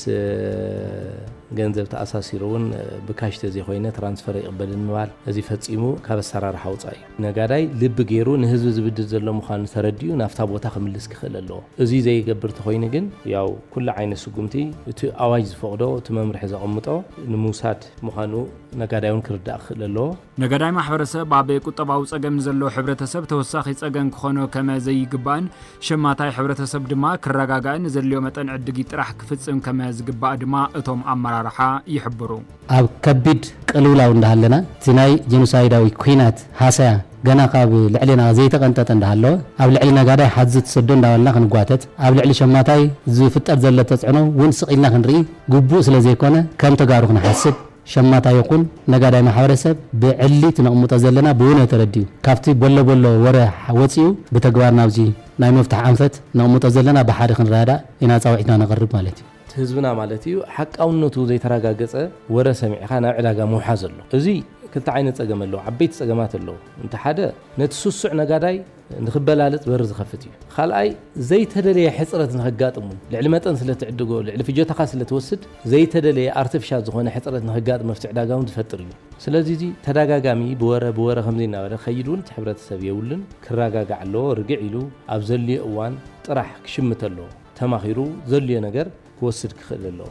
ገንዘብ ተኣሳሲሩ እውን ብካሽ ተዘይኮይነ ትራንስፈር ኣይቕበልን ምባል እዚ ፈጺሙ ካብ ኣሰራርሓ ወጻኢ እዩ። ነጋዳይ ልቢ ገይሩ ንህዝቢ ዝብድል ዘሎ ምዃኑ ተረዲኡ ናብታ ቦታ ክምልስ ክኽእል ኣለዎ። እዙይ ዘይገብር ተኾይኑ ግን ያው ኩሉ ዓይነት ስጉምቲ እቲ ኣዋጅ ዝፈቕዶ እቲ መምርሒ ዘቐምጦ ንምውሳድ ምዃኑ ነጋዳይ እውን ክርዳእ ክኽእል ኣለዎ። ነጋዳይ ማሕበረሰብ ኣብ ቁጠባዊ ፀገም ንዘሎ ሕብረተሰብ ተወሳኺ ፀገም ክኾኖ ከመ ዘይግባእን ሸማታይ ሕብረተሰብ ድማ ክረጋጋእን ዘድልዮ መጠን ዕድጊት ጥራሕ ክፍፅም ከመ ዝግባእ ድማ እቶም ኣመራርሓ ይሕብሩ። ኣብ ከቢድ ቅልውላው እንዳሃለና እቲ ናይ ጀኖሳይዳዊ ኲናት ሃሰያ ገና ካብ ልዕሌና ዘይተቐንጠጠ እንዳሃለወ ኣብ ልዕሊ ነጋዳይ ሓዙት ትሰዶ እንዳበልና ክንጓተት ኣብ ልዕሊ ሸማታይ ዝፍጠር ዘሎ ተፅዕኖ ውን ስቕ ኢልና ክንርኢ ግቡእ ስለዘይኮነ ከም ተጋሩ ክንሓስብ ሸማታ ይኹን ነጋዳይ ማሕበረሰብ ብዕሊት ነቕምጦ ዘለና ብውነ ተረዲኡ ካብቲ በሎ በሎ ወረ ወጺኡ ብተግባር ናብዚ ናይ መፍትሕ ኣንፈት ነቕምጦ ዘለና ብሓደ ክንረዳዳእ ኢና ጻውዒትና ነቕርብ ማለት እዩ። እቲ ህዝብና ማለት እዩ ሓቃውነቱ ዘይተራጋገጸ ወረ ሰሚዕኻ ናብ ዕዳጋ ምውሓዝ ኣሎ። እዙይ ክልተ ዓይነት ጸገም ኣለዎ፣ ዓበይቲ ጸገማት ኣለዎ። እንተ ሓደ ነቲ ስሱዕ ነጋዳይ ንኽበላልጽ በሪ ዝኸፍት እዩ። ኻልኣይ፣ ዘይተደለየ ሕጽረት ንኸጋጥም እውን፣ ልዕሊ መጠን ስለ ትዕድጎ፣ ልዕሊ ፍጆታኻ ስለ ትወስድ፣ ዘይተደለየ፣ ኣርተፊሻል፣ ዝኾነ ሕጽረት ንኸጋጥም ኣብቲ ዕዳጋ እውን ዝፈጥር እዩ። ስለዚ እዚ ተዳጋጋሚ ብወረ ብወረ ከምዚ እናበለ ክኸይድ እውን እቲ ሕብረተሰብ የብሉን፣ ክራጋጋዕ ኣለዎ፣ ርግዕ ኢሉ ኣብ ዘድልዮ እዋን ጥራሕ ክሽምት ኣለዎ፣ ተማኺሩ ዘድልዮ ነገር ክወስድ ክኽእል ኣለዎ።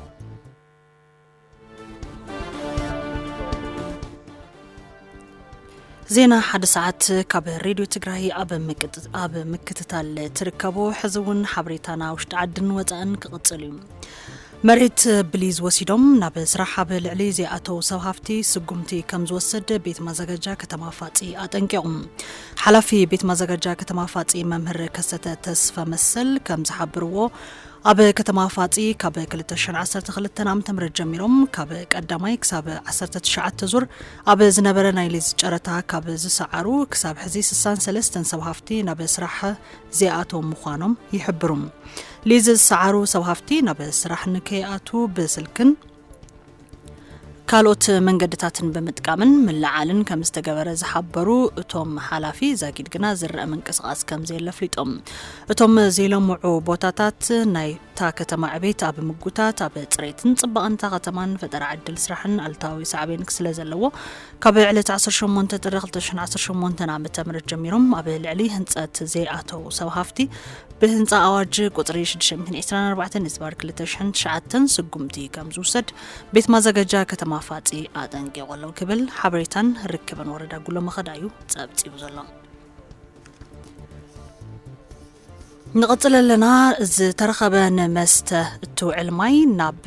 ዜና ሓደ ሰዓት ካብ ሬድዮ ትግራይ ኣብ ምክትታል ትርከቡ ሕዚ እውን ሓበሬታና ውሽጢ ዓድን ወፃእን ክቕፅል እዩ መሬት ብሊዝ ወሲዶም ናብ ስራሕ ኣብ ልዕሊ ዘይኣተው ሰብ ሃፍቲ ስጉምቲ ከም ዝወስድ ቤት ማዘጋጃ ከተማ ፋፂ ኣጠንቂቑ ሓላፊ ቤት ማዘጋጃ ከተማ ፋፂ መምህር ከሰተ ተስፈ መሰል ከም ዝሓብርዎ ኣብ ከተማ ፋጺ ካብ ክልተ ሽሕን ዓሰርተ ክልተን ዓመተ ምህረት ጀሚሮም ካብ ቀዳማይ ክሳብ ዓሰርተ ትሽዓተ ዙር ኣብ ዝነበረ ናይ ሊዝ ጨረታ ካብ ዝሰዓሩ ክሳብ ሕዚ ስሳን ሰለስተን ሰብ ሃፍቲ ናብ ስራሕ ዘይኣተው ምዃኖም ይሕብሩ። ሊዝ ዝሰዓሩ ሰብ ሃፍቲ ናብ ስራሕ ንከይኣትው ብስልክን ካልኦት መንገድታትን ብምጥቃምን ምልዓልን ከም ዝተገበረ ዝሓበሩ እቶም ሓላፊ ዛጊድ ግና ዝረአ ምንቅስቓስ ከም ዘየለ ኣፍሊጦም እቶም ዘይለምዑ ቦታታት ናይታ ከተማ ዕቤት ኣብ ምጉታት ኣብ ፅሬትን ፅባቐንታ ከተማን ፈጠራ ዕድል ስራሕን ኣልታዊ ሳዕቤን ስለ ዘለዎ ካብ ዕለት ዓሰርተ ሸሞንተ ጥሪ ክልተ ሽሕን ዓሰርተ ሸሞንተን ዓመተ ምህረት ጀሚሮም ኣብ ልዕሊ ህንፀት ዘይኣተዉ ሰብ ሃፍቲ ብህንፃ ኣዋጅ ቁፅሪ ሽዱሽተ ሚእትን ዒስራን ኣርባዕተን ህዝባር ክልተ ሽሕን ትሽዓተን ስጉምቲ ከም ዝውሰድ ቤት ማዘጋጃ ከተማ ፋፂ ኣጠንቂቑ ኣሎ ክብል ሓበሬታን ርክብን ወረዳ ጉሎ መኸዳ እዩ ፀብፂቡ ዘሎ። ንቕጽል ኣለና ዝተረኸበ ንመስተ እትውዕል ማይ ናብ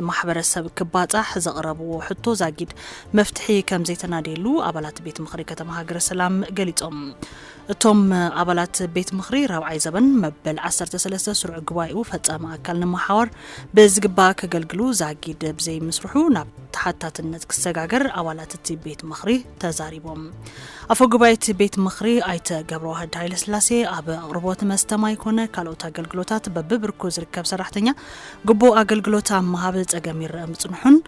ማሕበረሰብ ክባጻሕ ዘቕረብዎ ሕቶ ዛጊድ መፍትሒ ከም ዘይተናደየሉ ኣባላት ቤት ምኽሪ ከተማ ሃገረ ሰላም ገሊጾም። እቶም ኣባላት ቤት ምኽሪ ራብዓይ ዘበን መበል 13 ስሩዕ ጉባኤኡ ፈጻሚ ኣካል ንምሓዋር ብዝግባእ ከገልግሉ ዛጊድ ብዘይምስርሑ ናብ ተሓታትነት ክሰጋገር ኣባላት እቲ ቤት ምኽሪ ተዛሪቦም። ኣፈ ጉባኤት ቤት ምኽሪ ኣይተ ገብረዋህድ ሃይለስላሴ፣ ኣብ ኣቕርቦት መስተ ማይ ኮነ ካልኦት ኣገልግሎታት በቢብርኩ ዝርከብ ሰራሕተኛ ግቡእ ኣገልግሎት ኣብ ምሃብ ፀገም ይረኣ ምፅንሑን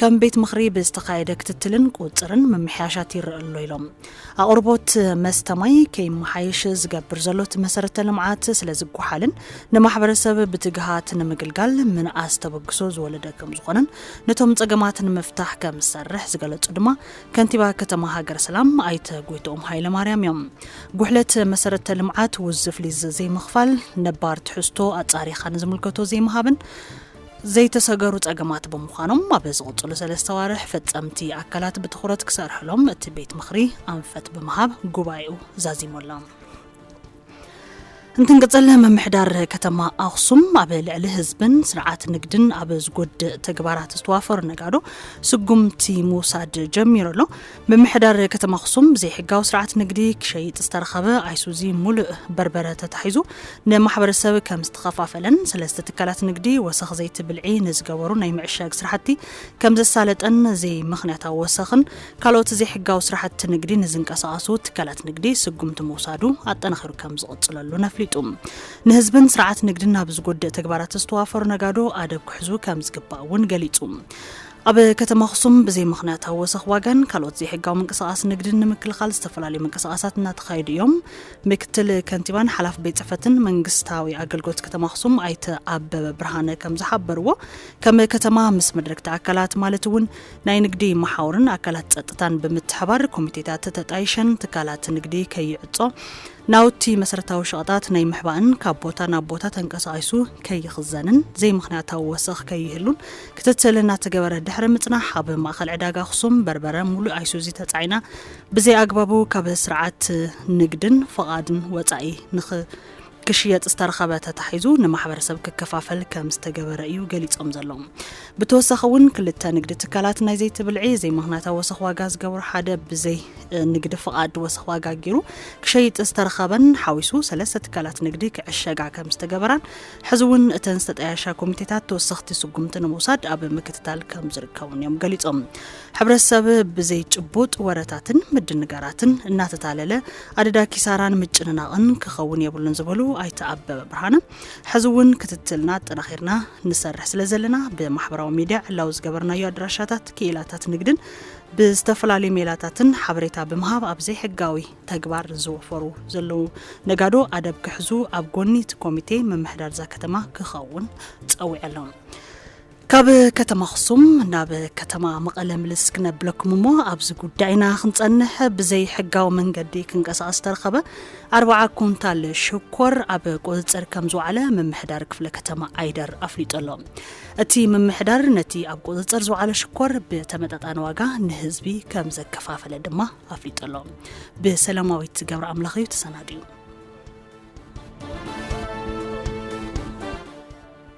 ከም ቤት ምኽሪ ብዝተኻየደ ክትትልን ቁፅፅርን ምምሕያሻት ይረኣ ኣሎ ኢሎም። ኣቕርቦት መስተ ማይ ከይመሓየሽ ዝገብር ዘሎ እቲ መሰረተ ልምዓት ስለዝጎሓልን ንማሕበረሰብ ብትግሃት ንምግልጋል ምንኣስ ተበግሶ ዝወለደ ከምዝኾነን ነቶም ፀገማት ንምፍታሕ ከምዝሰርሕ ዝገለፁ ድማ ከንቲባ ከተማ ሃገረ ሰላም ኣይተ ጎይትኦም ሃይለማርያም እዮም። ጉሕለት መሰረተ ልምዓት፣ ውዝፍ ሊዝ ዘይምኽፋል፣ ነባር ትሕዝቶ ኣፃሪኻ ንዝምልከቶ ዘይምሃብን ዘይተሰገሩ ፀገማት ብምዃኖም ኣብ ዝቕፅሉ ሰለስተ ኣዋርሕ ፈፀምቲ ኣካላት ብትኹረት ክሰርሕሎም እቲ ቤት ምኽሪ ኣንፈት ብምሃብ ጉባኤኡ ዛዚሙ ኣሎ። እንትንቅፅል ምምሕዳር ከተማ ኣክሱም ኣብ ልዕሊ ህዝብን ስርዓት ንግድን ኣብ ዝጎድእ ተግባራት ዝተዋፈሩ ነጋዶ ስጉምቲ ምውሳድ ጀሚሩ ኣሎ። ምምሕዳር ከተማ ኣክሱም ብዘይሕጋዊ ስርዓት ንግዲ ክሸይጥ ዝተረኸበ ኣይሱዚ ሙሉእ በርበረ ተታሒዙ ንማሕበረሰብ ከም ዝተኸፋፈለን ሰለስተ ትካላት ንግዲ ወሰኽ ዘይቲ ብልዒ ንዝገበሩ ናይ ምዕሻግ ስራሕቲ ከም ዘሳለጠን ዘይምኽንያታዊ ወሰኽን ካልኦት ዘይሕጋዊ ስራሕቲ ንግዲ ንዝንቀሳቐሱ ትካላት ንግዲ ስጉምቲ ምውሳዱ ኣጠናኺሩ ከም ዝቕፅለሉን ኣፍሊጡ። ንህዝብን ስርዓት ንግድን ናብ ዝጎድእ ተግባራት ዝተዋፈሩ ነጋዶ ኣደብ ክሕዙ ከም ዝግባእ እውን ገሊፁ። ኣብ ከተማ ኣኽሱም ብዘይ ምኽንያታዊ ወሰኽ ዋጋን ካልኦት ዘይሕጋዊ ምንቅስቓስ ንግድን ንምክልኻል ዝተፈላለዩ ምንቅስቓሳት እናተኻየዱ እዮም። ምክትል ከንቲባን ሓላፊ ቤት ፅሕፈትን መንግስታዊ ኣገልግሎት ከተማ ኣኽሱም ኣይተ ኣበበ ብርሃነ ከም ዝሓበርዎ ከም ከተማ ምስ መድረግቲ ኣካላት ማለት እውን ናይ ንግዲ መሓውርን ኣካላት ጸጥታን ብምትሕባር ኮሚቴታት ተጣይሸን ትካላት ንግዲ ከይዕጾ፣ ናውቲ መሰረታዊ ሸቐጣት ናይ ምሕባእን ካብ ቦታ ናብ ቦታ ተንቀሳቒሱ ከይኽዘንን ዘይምኽንያታዊ ወሰኽ ከይህሉን ክትትል እናተገበረ ድሕሪ ምጽናሕ ኣብ ማእኸል ዕዳጋ ኣኽሱም በርበረ ሙሉእ ኣይሱዚ ተጻዒና ብዘይኣግባቡ ካብ ስርዓት ንግድን ፍቓድን ወጻኢ ንኽ ክሽየጥ ዝተረኸበ ተታሒዙ ንማሕበረሰብ ክከፋፈል ከም ዝተገበረ እዩ ገሊፆም ዘለዉ። ብተወሳኺ እውን ክልተ ንግዲ ትካላት ናይ ዘይቲ ብልዒ ዘይምኽንያታዊ ወሰኽ ዋጋ ዝገብሩ ሓደ ብዘይ ንግዲ ፍቓድ ወሰኽ ዋጋ ገይሩ ክሸይጥ ዝተረኸበን ሓዊሱ ሰለስተ ትካላት ንግዲ ክዕሸጋ ከም ዝተገበራን ሕዚ እውን እተን ዝተጠያየሻ ኮሚቴታት ተወሰኽቲ ስጉምቲ ንምውሳድ ኣብ ምክትታል ከም ዝርከቡን እዮም ገሊፆም። ሕብረተሰብ ብዘይጭቡጥ ወረታትን ምድንጋራትን እናተታለለ ኣደዳ ኪሳራን ምጭንናቕን ክኸውን የብሉን ዝበሉ ኣይተ ኣበበ ብርሃነ ሕዚ እውን ክትትልና ኣጠናኺርና ንሰርሕ ስለ ዘለና ብማሕበራዊ ሚድያ ዕላዊ ዝገበርናዮ ኣድራሻታት ክኢላታት ንግድን ብዝተፈላለዩ ሜላታትን ሓበሬታ ብምሃብ ኣብ ዘይሕጋዊ ተግባር ዝወፈሩ ዘለዉ ነጋዶ ኣደብ ክሕዙ ኣብ ጎኒ እቲ ኮሚቴ ምምሕዳር እዛ ከተማ ክኸውን ፀዊዐሎም ካብ ከተማ ኣኽሱም ናብ ከተማ መቐለ ምልስ ክነብለኩም እሞ ኣብዚ ጉዳይና ክንጸንሕ ብዘይ ሕጋዊ መንገዲ ክንቀሳቐስ ዝተረኸበ ኣርባዓ ኩንታል ሽኮር ኣብ ቁፅፅር ከም ዝወዓለ ምምሕዳር ክፍለ ከተማ ዓይደር ኣፍሊጡ ኣሎ። እቲ ምምሕዳር ነቲ ኣብ ቁፅፅር ዝወዓለ ሽኮር ብተመጣጣኒ ዋጋ ንህዝቢ ከም ዘከፋፈለ ድማ ኣፍሊጡ ኣሎ። ብሰላማዊት ገብረ ኣምላኽ እዩ ተሰናዲኡ።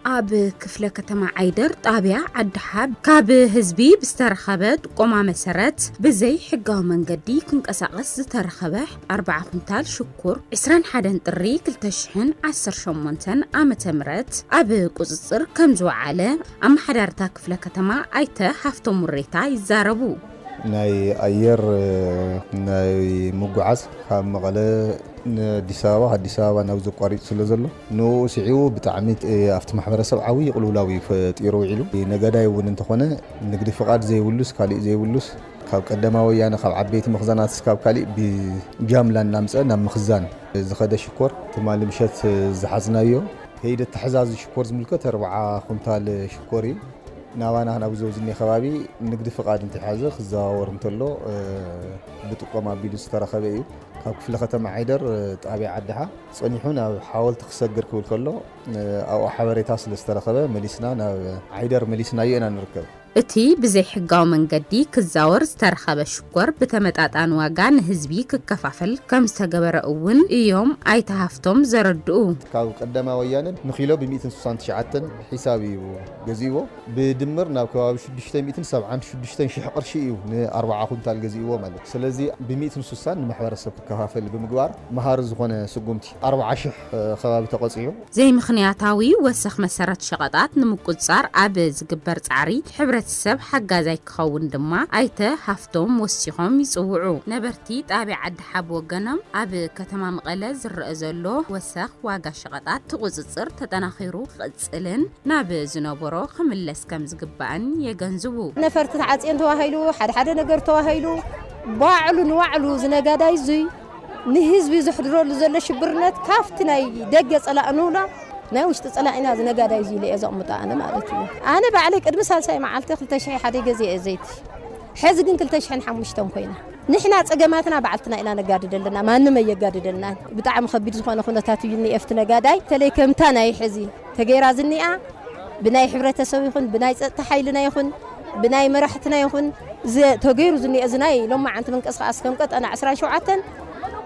ኣብ ክፍለ ከተማ ዓይደር ጣብያ ዓዲሓብ ካብ ህዝቢ ብዝተረኸበ ጥቆማ መሰረት ብዘይ ሕጋዊ መንገዲ ክንቀሳቐስ ዝተረኸበ 4 ኩንታል ሽኩር 21 ጥሪ 2018 ዓ ም ኣብ ቁፅፅር ከም ዝወዓለ ኣመሓዳርታ ክፍለ ከተማ ኣይተ ሃፍቶ ሙሬታ ይዛረቡ። ናይ ኣየር ናይ ምጉዓዝ ካብ መቐለ ንኣዲስ ኣበባ ኣዲስ ኣበባ ናብ ዘቋሪፅ ስለ ዘሎ ንኡ ስዒቡ ብጣዕሚ ኣብቲ ማሕበረሰብ ዓብይ ቕልውላው እዩ ፈጢሩ ውዒሉ። ነጋዳይ እውን እንተኾነ ንግዲ ፍቓድ ዘይብሉስ ካሊእ ዘይብሉስ ካብ ቀደማ ወያነ ካብ ዓበይቲ መኽዘናት እስካብ ካሊእ ብጃምላ እናምፀ ናብ ምኽዛን ዝኸደ ሽኮር ትማሊ ምሸት ዝሓዝናዮ ከይዲ ኣተሓዛዚ ሽኮር ዝምልከት ኣርብዓ ኩንታል ሽኮር እዩ። ናባና ናብዚ ኣብዚ ዝኒሀ ከባቢ ንግዲ ፍቓድ እንተይሓዘ ክዘዋወር እንተሎ ብጥቆማ ኣቢሉ ዝተረኸበ እዩ። ካብ ክፍለ ከተማ ዓይደር ጣብያ ዓድሓ። ጸኒሑ ናብ ሓወልቲ ክሰግር ክብል ከሎ ኣብኡ ሓበሬታ ስለ ዝተረኸበ መሊስና ናብ ዓይደር መሊስናዮ ኢና ንርከብ። እቲ ብዘይሕጋዊ መንገዲ ክዛወር ዝተረኸበ ሽኮር ብተመጣጣኒ ዋጋ ንህዝቢ ክከፋፈል ከም ዝተገበረ እውን እዮም ኣይተ ሃፍቶም ዘረድኡ። ካብ ቀዳማይ ወያነ ንኪሎ ብ ሚእትን ስሳን ትሽዓተን ሒሳብ እዩ ገዚእዎ። ብድምር ናብ ከባቢ ሽዱሽተ ሚእትን ሰብዓን ሽዱሽተን ሽሕ ቅርሺ እዩ ን ኣርብዓ ኩንታል ገዚእዎ ማለት እዩ። ስለዚ ብ ሚእትን ስሳን ንማሕበረሰብ። ከፋፍል ብምግባር መሃሪ ዝኾነ ስጉምቲ ኣርብዓ ሽሕ ከባቢ ተቐፂዑ። ዘይምኽንያታዊ ወሰኽ መሰረት ሸቐጣት ንምቁፅፃር ኣብ ዝግበር ፃዕሪ ሕብረተሰብ ሓጋዛይ ክኸውን ድማ ኣይተ ሃፍቶም ወሲኾም ይፅውዑ። ነበርቲ ጣብያ ዓዲ ሓ ብወገኖም ኣብ ከተማ መቐለ ዝረኣ ዘሎ ወሰኽ ዋጋ ሸቐጣት ትቑፅፅር ተጠናኺሩ ክቕፅል ክቕፅልን ናብ ዝነበሮ ክምለስ ከምዝግባእን የገንዝቡ። ነፈርቲ ተዓፅየን ተባሂሉ ሓደ ሓደ ነገር ተባሂሉ ባዕሉ ንባዕሉ እዚ ነጋዳይ እዙይ ንህዝቢ ዘሕድረሉ ዘሎ ሽብርነት ካብቲ ናይ ደገ ፀላእ ንብሎ ናይ ውሽጢ ፀላኢና እዚ ነጋዳይ እዙይ ኢለ እየ ዘቕምጦ ኣነ ማለት እዩ። ኣነ ባዕለይ ቅድሚ ሳልሳይ መዓልቲ ክልተ ሽሕ ሓደ ገዚኤ እየ ዘይቲ ሕዚ ግን ክልተ ሽሕን ሓሙሽተን ኮይና። ንሕና ጸገማትና ባዕልትና ኢና ነጋድድ ኣለና ማንም ኣየጋድደልናን ብጣዕሚ ከቢድ ዝኮነ ኩነታት እዩ ዝኒኤ ኣብቲ ነጋዳይ ተለይ ከምታ ናይ ሕዚ ተገይራ ዝኒኣ ብናይ ሕብረተሰብ ይኩን ብናይ ጸጥታ ሓይልና ይኩን ብናይ መራሕትና ይኩን እዚ ተገይሩ ዝኒኤ እዚ ናይ ሎማዓንቲ ምንቅስቃስ ከም ቀጠና ዕስራን ሸውዓተን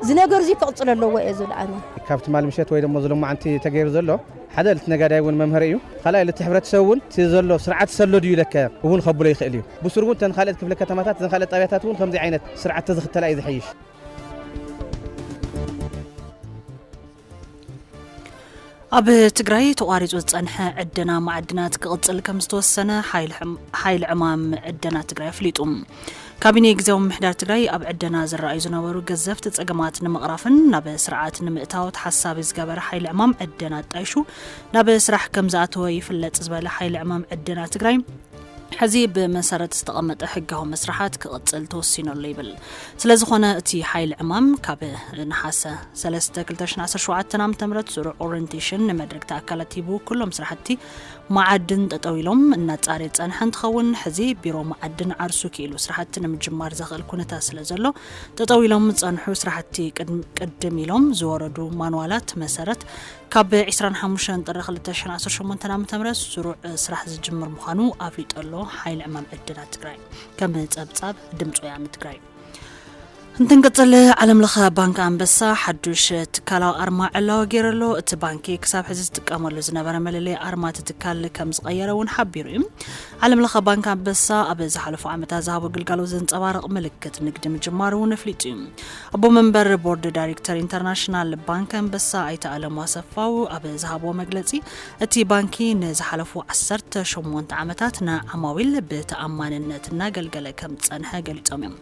እዚ ነገር እዚ ክቅጽል ኣለዎ እየ ዝብል ኣነ። ካብ ትማል ምሸት ወይ ደሞ እዚ ሎማዓንቲ ተገይሩ ዘሎ ሓደ ልቲ ነጋዳይ እውን መምሀሪ እዩ እቲ ካልኣይ ልቲ ሕብረተሰብ እውን እቲ ዘሎ ስርዓት ሰሎ ድዩ ለከ እውን ከብሎ ይክእል እዩ። ብሱሩ እውን እተን ካልኦት ክፍለ ከተማታት እዘን ካልኦት ጣብያታት እውን ከምዙይ ዓይነት ስርዓት ተዝኽተላ እዩ ዝሐይሽ። ኣብ ትግራይ ተቋሪፁ ዝፀንሐ ዕደና ማዕድናት ክቕፅል ከም ዝተወሰነ ሓይሊ ዕማም ዕደና ትግራይ ኣፍሊጡ። ካቢኔ ግዜያዊ ምምሕዳር ትግራይ ኣብ ዕደና ዝረኣዩ ዝነበሩ ገዘፍቲ ፀገማት ንምቕራፍን ናብ ስርዓት ንምእታው ተሓሳቢ ዝገበረ ሓይሊ ዕማም ዕደና ኣጣይሹ ናብ ስራሕ ከም ዝኣተወ ይፍለጥ ዝበለ ሓይሊ ዕማም ዕደና ትግራይ ሕዚ ብመሰረት ዝተቐመጠ ሕጋዊ መስርሓት ክቕፅል ተወሲኖሉ ይብል ስለዝኾነ እቲ ሓይሊ ዕማም ካብ ነሓሰ 3 2017 ዓ ም ስሩዕ ኦሪንቴሽን ንመድረግቲ ኣካላት ሂቡ ኩሎም ስራሕቲ መዓድን ጠጠው ኢሎም እናፃርየ ፀንሐ እንትኸውን ሕዚ ቢሮ መዓድን ዓርሱ ክኢሉ ስራሕቲ ንምጅማር ዘኽእል ኩነታት ስለዘሎ ጠጠው ኢሎም ዝፀንሑ ስራሕቲ ቅድም ኢሎም ዝወረዱ ማንዋላት መሰረት ካብ ዕስራን ሓሙሽተን ጥሪ ክልተ ሽሕን ዓሰርተ ሸሞንተን ዓመተ ምህረት ስሩዕ ስራሕ ዝጅምር ምዃኑ ኣፍሊጡ ኣሎ ሓይሊ ዕማም ዕድላት ትግራይ ከም ጸብጻብ ድምፂ ወያነ ትግራይ እንትንቅጽል ዓለም ለኸ ባንኪ ኣንበሳ ሓዱሽ ትካላዊ ኣርማ ዕላዊ ገይሩ ኣሎ እቲ ባንኪ ክሳብ ሕዚ ዝጥቀመሉ ዝነበረ መለለይ ኣርማ እቲ ትካል ከም ዝቐየረ እውን ሓቢሩ እዩ ዓለም ለኸ ባንኪ ኣንበሳ ኣብ ዝሓለፉ ዓመታት ዝሃቦ ግልጋሎት ዘንጸባርቕ ምልክት ንግዲ ምጅማሩ እውን ኣፍሊጡ እዩ ኣቦ መንበር ቦርድ ዳይሬክተር ኢንተርናሽናል ባንክ ኣንበሳ ኣይተ ኣለሙ ኣሰፋው ኣብ ዝሃብዎ መግለፂ እቲ ባንኪ ንዝሓለፉ ዓሰርተ ሸሞንተ ዓመታት ንዓማዊል ብተኣማንነት እናገልገለ ከም ዝፀንሐ ገሊፆም እዮም።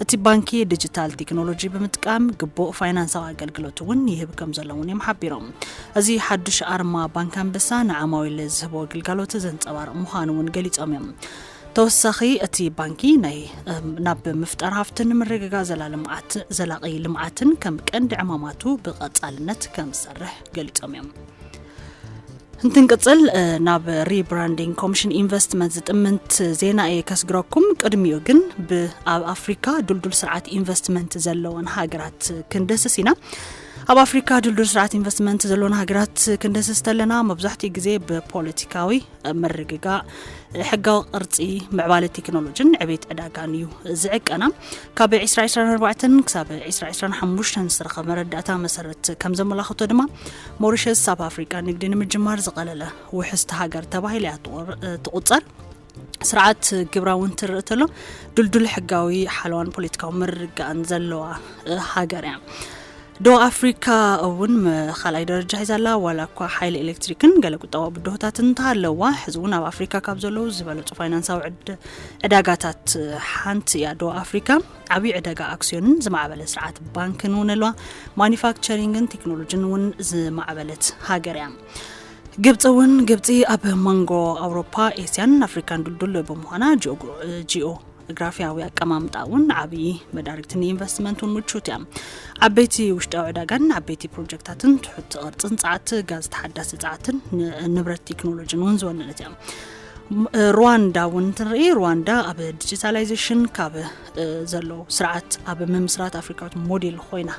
እቲ ባንኪ ዲጂታል ቴክኖሎጂ ብምጥቃም ግቡእ ፋይናንሳዊ ኣገልግሎት እውን ይህብ ከም ዘሎ እውን እዮም ሓቢሮም። እዚ ሓዱሽ ኣርማ ባንክ ኣንበሳ ንዓማዊል ዝህቦ ግልጋሎት ዘንፀባርቕ ምዃኑ እውን ገሊፆም እዮም። ተወሳኺ እቲ ባንኪ ናይ ናብ ምፍጣር ሃፍትን ምርግጋእ ዘላልምዓት ዘላቒ ልምዓትን ከም ቀንዲ ዕማማቱ ብቐጻልነት ከም ዝሰርሕ ገሊጾም እዮም። እንትንቅጽል ናብ ሪብራንዲንግ ኮሚሽን ኢንቨስትመንት ዝጥምንት ዜና እየ ከስግረኩም ቅድሚኡ ግን ብኣብ ኣፍሪካ ዱልዱል ስርዓት ኢንቨስትመንት ዘለወን ሃገራት ክንደስስ ኢና ኣብ ኣፍሪካ ድልዱል ስርዓት ኢንቨስትመንት ዘለወን ሃገራት ክንደስስ ተለና መብዛሕትኡ ግዜ ብፖለቲካዊ ምርግጋእ ሕጋዊ ቅርፂ ምዕባለ ቴክኖሎጂን ዕቤት ዕዳጋን እዩ ዝዕቀና ካብ 224 ክሳብ 225 ዝተረኸበ መረዳእታ መሰረት ከም ዘመላኽቶ ድማ ሞሪሸስ ኣብ ኣፍሪቃ ንግዲ ንምጅማር ዝቐለለ ውሕስቲ ሃገር ተባሂላ እያ ትቑፀር ስርዓት ግብራ እውን ትርኢ ተሎ ድልዱል ሕጋዊ ሓለዋን ፖለቲካዊ ምርግጋእን ዘለዋ ሃገር እያ ደቡብ ኣፍሪካ እውን ካልኣይ ደረጃ ሒዛ ኣላ። ዋላ እኳ ሓይሊ ኤሌክትሪክን ገለ ቁጠባዊ ብድሆታት እንተሃለዋ ሕዚ እውን ኣብ ኣፍሪካ ካብ ዘለዉ ዝበለፁ ፋይናንሳዊ ዕዳጋታት ሓንቲ እያ። ደቡብ ኣፍሪካ ዓብዪ ዕደጋ ኣክስዮንን ዝማዕበለ ስርዓት ባንክን እውን ኣለዋ። ማኒፋክቸሪንግን ቴክኖሎጂን እውን ዝማዕበለት ሃገር እያ። ግብፂ እውን ግብፂ ኣብ መንጎ ኣውሮፓ ኤስያን ኣፍሪካን ድልዱል ብምዃና ጂኦ ግራፍያዊ ኣቀማምጣ እውን ዓብዪ መዳርግቲ ንኢንቨስትመንት እውን ምቹት እያ ዓበይቲ ውሽጣዊ ዕዳጋን ዓበይቲ ፕሮጀክታትን ትሑት ቅርፅን ፀዓት ጋዝ ተሓዳሲ ፀዓትን ንብረት ቴክኖሎጂን እውን ዝወነነት እያ ሩዋንዳ እውን እንትንርኢ ሩዋንዳ ኣብ ዲጂታላይዜሽን ካብ ዘሎ ስርዓት ኣብ ምምስራት ኣፍሪካዊት ሞዴል ኮይና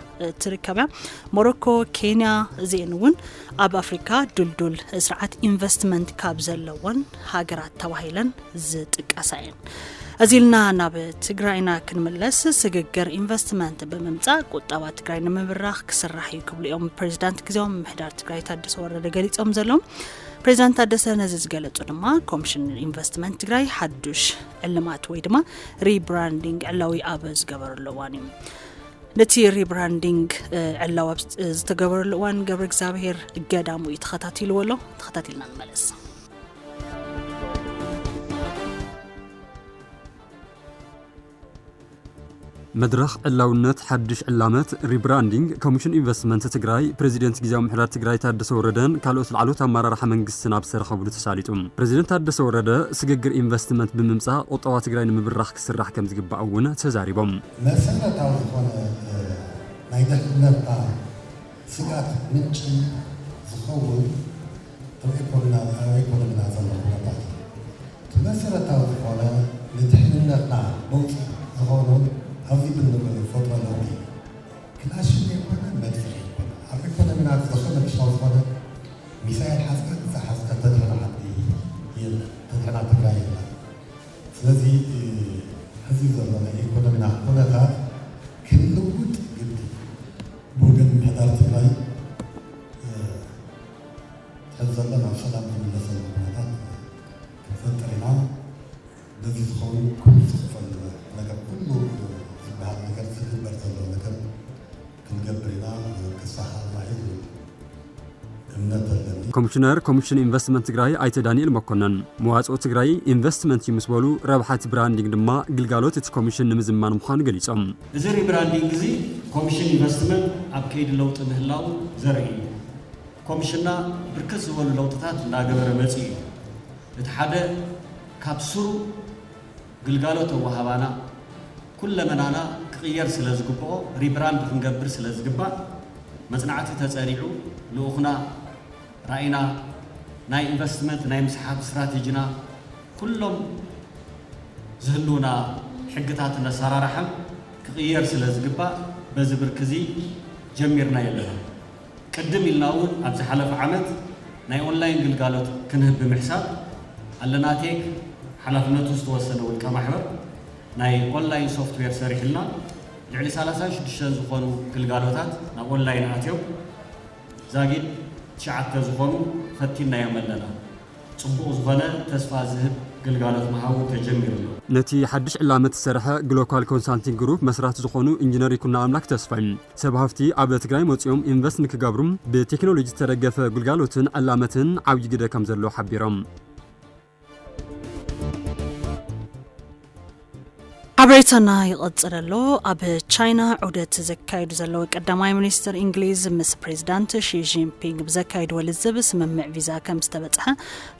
ትርከብ እያ ሞሮኮ ኬንያ እዚአን እውን ኣብ ኣፍሪካ ድልዱል ስርዓት ኢንቨስትመንት ካብ ዘለወን ሃገራት ተባሂለን ዝጥቀሳ እየን። እዚ ኢልና ናብ ትግራይና ክንምለስ ስግግር ኢንቨስትመንት ብምምፃእ ቁጠባ ትግራይ ንምብራኽ ክስራሕ እዩ ክብሉ እዮም ፕሬዚዳንት ግዜያዊ ምሕዳር ትግራይ ታደሰ ወረደ ገሊፆም ዘለዉ። ፕሬዚዳንት ታደሰ ነዚ ዝገለፁ ድማ ኮሚሽን ኢንቨስትመንት ትግራይ ሓዱሽ ዕልማት ወይ ድማ ሪብራንዲንግ ዕላዊ ኣብ ዝገበረሉ እዋን እዩ። ነቲ ሪብራንዲንግ ዕላዊ ኣብ ዝተገበረሉ እዋን ገብረ እግዚኣብሄር ገዳሙ እዩ ተኸታቲልዎ ኣሎ። ተኸታቲልና ንመለስ። መድረኽ ዕላውነት ሓድሽ ዕላመት ሪብራንዲንግ ኮሚሽን ኢንቨስትመንት ትግራይ ፕሬዚደንት ግዜያዊ ምሕዳር ትግራይ ታደሰ ወረደን ካልኦት ላዕለዎት ኣመራርሓ መንግስትን ኣብ ዝተረኸብሉ ተሳሊጡ። ፕሬዚደንት ታደሰ ወረደ ስግግር ኢንቨስትመንት ብምምፃእ ቁጠባ ትግራይ ንምብራኽ ክስራሕ ከምዝግባእ እውን ተዛሪቦም። መሰረታዊ ዝኾነ ናይ ድሕነትና ስግኣት ምንጪ ዝኸውን ኣበይ ኮንና ኣበይ ኮን ኢና ዘሎ ኩነታት እዩ እቲ መሰረታዊ ዝኾነ ንድሕንነትና ነውጺ ዝኾኑ ኣብዚ ብንፈጥሮ ነውሪ እዩ ክላሽን ዘይኮነ መድፍዕ ዘይኮነ ኣብ ኢኮኖሚና ዝኸነ ክሻው ዝኾነ ሚሳኤል ሓዝካ ክሳዕ ሓዝካ ተድሕና ዓዲ የለን ተድሕና ትግራይ የለን ስለዚ እቲ ሕዚ ዘሎ ናይ ኢኮኖሚና ኩነታት ክንልውጥ ግድን ብወገን ምሕዳር ትግራይ ሕዚ ዘሎ ናብ ሰላም ዝምለሰሉ ኩነታት ክንፈጥር ኢና። ነዚ ዝኸውን ኩሉ ዝኽፈል ነገር ኩሉ ዝበሃል ነገር ዝግበር ዘሎ ነገር ክንገብር ኢና ዝብል ተስፋ ሓለና እዩ ዝብል እምነት ኣለኒ። ኮሚሽነር ኮሚሽን ኢንቨስትመንት ትግራይ ኣይተ ዳኒኤል መኮነን፣ መዋፅኦ ትግራይ ኢንቨስትመንት እዩ ምስ በሉ፣ ረብሓ እቲ ብራንዲንግ ድማ ግልጋሎት እቲ ኮሚሽን ንምዝማን ምዃኑ ገሊፆም። እዚ ሪብራንዲንግ እዚ ኮምሽን ኢንቨስትመንት ኣብ ከይዲ ለውጢ ምህላው ዘርኢ እዩ። ኮምሽንና ብርክት ዝበሉ ለውጥታት እንዳገበረ መፂኡ እዩ። እቲ ሓደ ካብ ሱሩ ግልጋሎት ኣወሃባና ኩለመናና ክቕየር ስለዝግበኦ ሪብራንድ ክንገብር ስለዝግባእ መፅናዕቲ ተፀኒዑ ልኡኽና፣ ራኢና፣ ናይ ኢንቨስትመንት ናይ ምስሓብ ስትራቴጂና፣ ኩሎም ዝህልዉና ሕግታትን ኣሰራርሓን ክቕየር ስለ ዝግባእ በዚ ብርኪ'ዚ ጀሚርናዮ ኣለና። ቅድም ኢልና'ውን ኣብ ዝሓለፈ ዓመት ናይ ኦንላይን ግልጋሎት ክንህብ ብምሕሳብ ኣለና ቴክ ሓላፍነቱ ዝተወሰነ ውልቀ ማሕበር ናይ ኦንላይን ሶፍትዌር ሰሪሑልና ልዕሊ ሰላሳን ሽዱሽተን ዝኾኑ ግልጋሎታት ናብ ኦንላይን ኣትዮም ዛጊድ ትሽዓተ ዝኾኑ ፈቲንናዮም ኣለና። ጽቡቕ ዝኾነ ተስፋ ዝህብ ግልጋሎት ምሃቡ ተጀሚሩ ኣሎ። ነቲ ሓድሽ ዕላመት ዝሰርሐ ግሎካል ኮንሳልቲንግ ግሩፕ መስራቲ ዝኾኑ ኢንጅነር ይኩኖኣምላክ ተስፋይ ሰብ ሃፍቲ ኣብ ትግራይ መፂኦም ኢንቨስት ንክገብሩ ብቴክኖሎጂ ዝተደገፈ ግልጋሎትን ዕላመትን ዓብዪ ግደ ከምዘለዎ ሓቢሮም። ሓበሬታና ይቕጽል ኣሎ። ኣብ ቻይና ዑደት ዘካይዱ ዘለዉ ቀዳማይ ሚኒስትር እንግሊዝ ምስ ፕሬዚዳንት ሺጂንፒንግ ብዘካይድዎ ልዝብ ስምምዕ ቪዛ ከም ዝተበጽሐ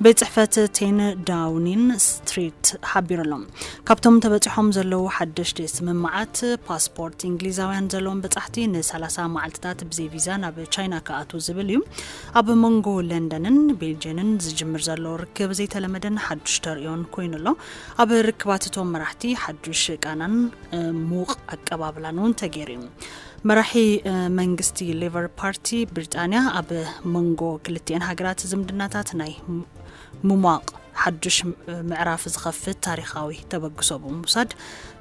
ቤት ጽሕፈት ቴን ዳውኒን ስትሪት ሓቢሩ ኣሎ። ካብቶም ተበጺሖም ዘለዉ ሓደሽቲ ስምምዓት ፓስፖርት እንግሊዛውያን ዘለዎም በጻሕቲ ን30 መዓልትታት ብዘይ ቪዛ ናብ ቻይና ክኣትዉ ዝብል እዩ። ኣብ መንጎ ለንደንን ቤልጅንን ዝጅምር ዘሎ ርክብ ዘይተለመደን ሓዱሽ ተርእዮን ኮይኑ ኣሎ። ኣብ ርክባት እቶም መራሕቲ ሓዱሽ ቃናን ሙቕ ኣቀባብላን እውን ተገይሩ እዩ። መራሒ መንግስቲ ሌቨር ፓርቲ ብሪጣንያ ኣብ መንጎ ክልቲኤን ሃገራት ዝምድናታት ናይ ምሟቕ ሓዱሽ ምዕራፍ ዝኸፍት ታሪኻዊ ተበግሶ ብምውሳድ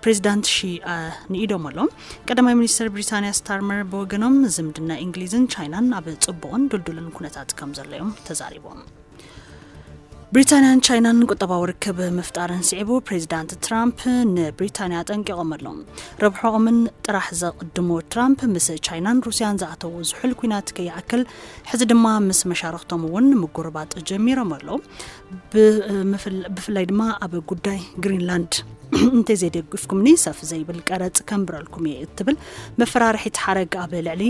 ፕሬዚዳንት ሺ ንኢዶም ኣሎ። ቀዳማይ ሚኒስትር ብሪታንያ ስታርመር ብወገኖም ዝምድና እንግሊዝን ቻይናን ኣብ ጽቡቕን ድልዱልን ኩነታት ከም ዘሎ እዮም ተዛሪቦም። ብሪታንያን ቻይናን ቁጠባዊ ርክብ ምፍጣርን ስዒቡ ፕሬዚዳንት ትራምፕ ንብሪታንያ ኣጠንቂቖም ኣሎ ረብሖኦምን ጥራሕ ዘቕድሙ ትራምፕ ምስ ቻይናን ሩስያን ዝኣተዉ ዝሑል ኩናት ከይኣክል ሕዚ ድማ ምስ መሻርክቶም እውን ምጉርባጥ ጀሚሮም ኣሎ ብፍላይ ድማ ኣብ ጉዳይ ግሪንላንድ እንተዘይደግፍኩምኒ ሰፍ ዘይብል ቀረፅ ከንብረልኩም እየ እትብል መፈራርሒት ሓረግ ኣብ ልዕሊ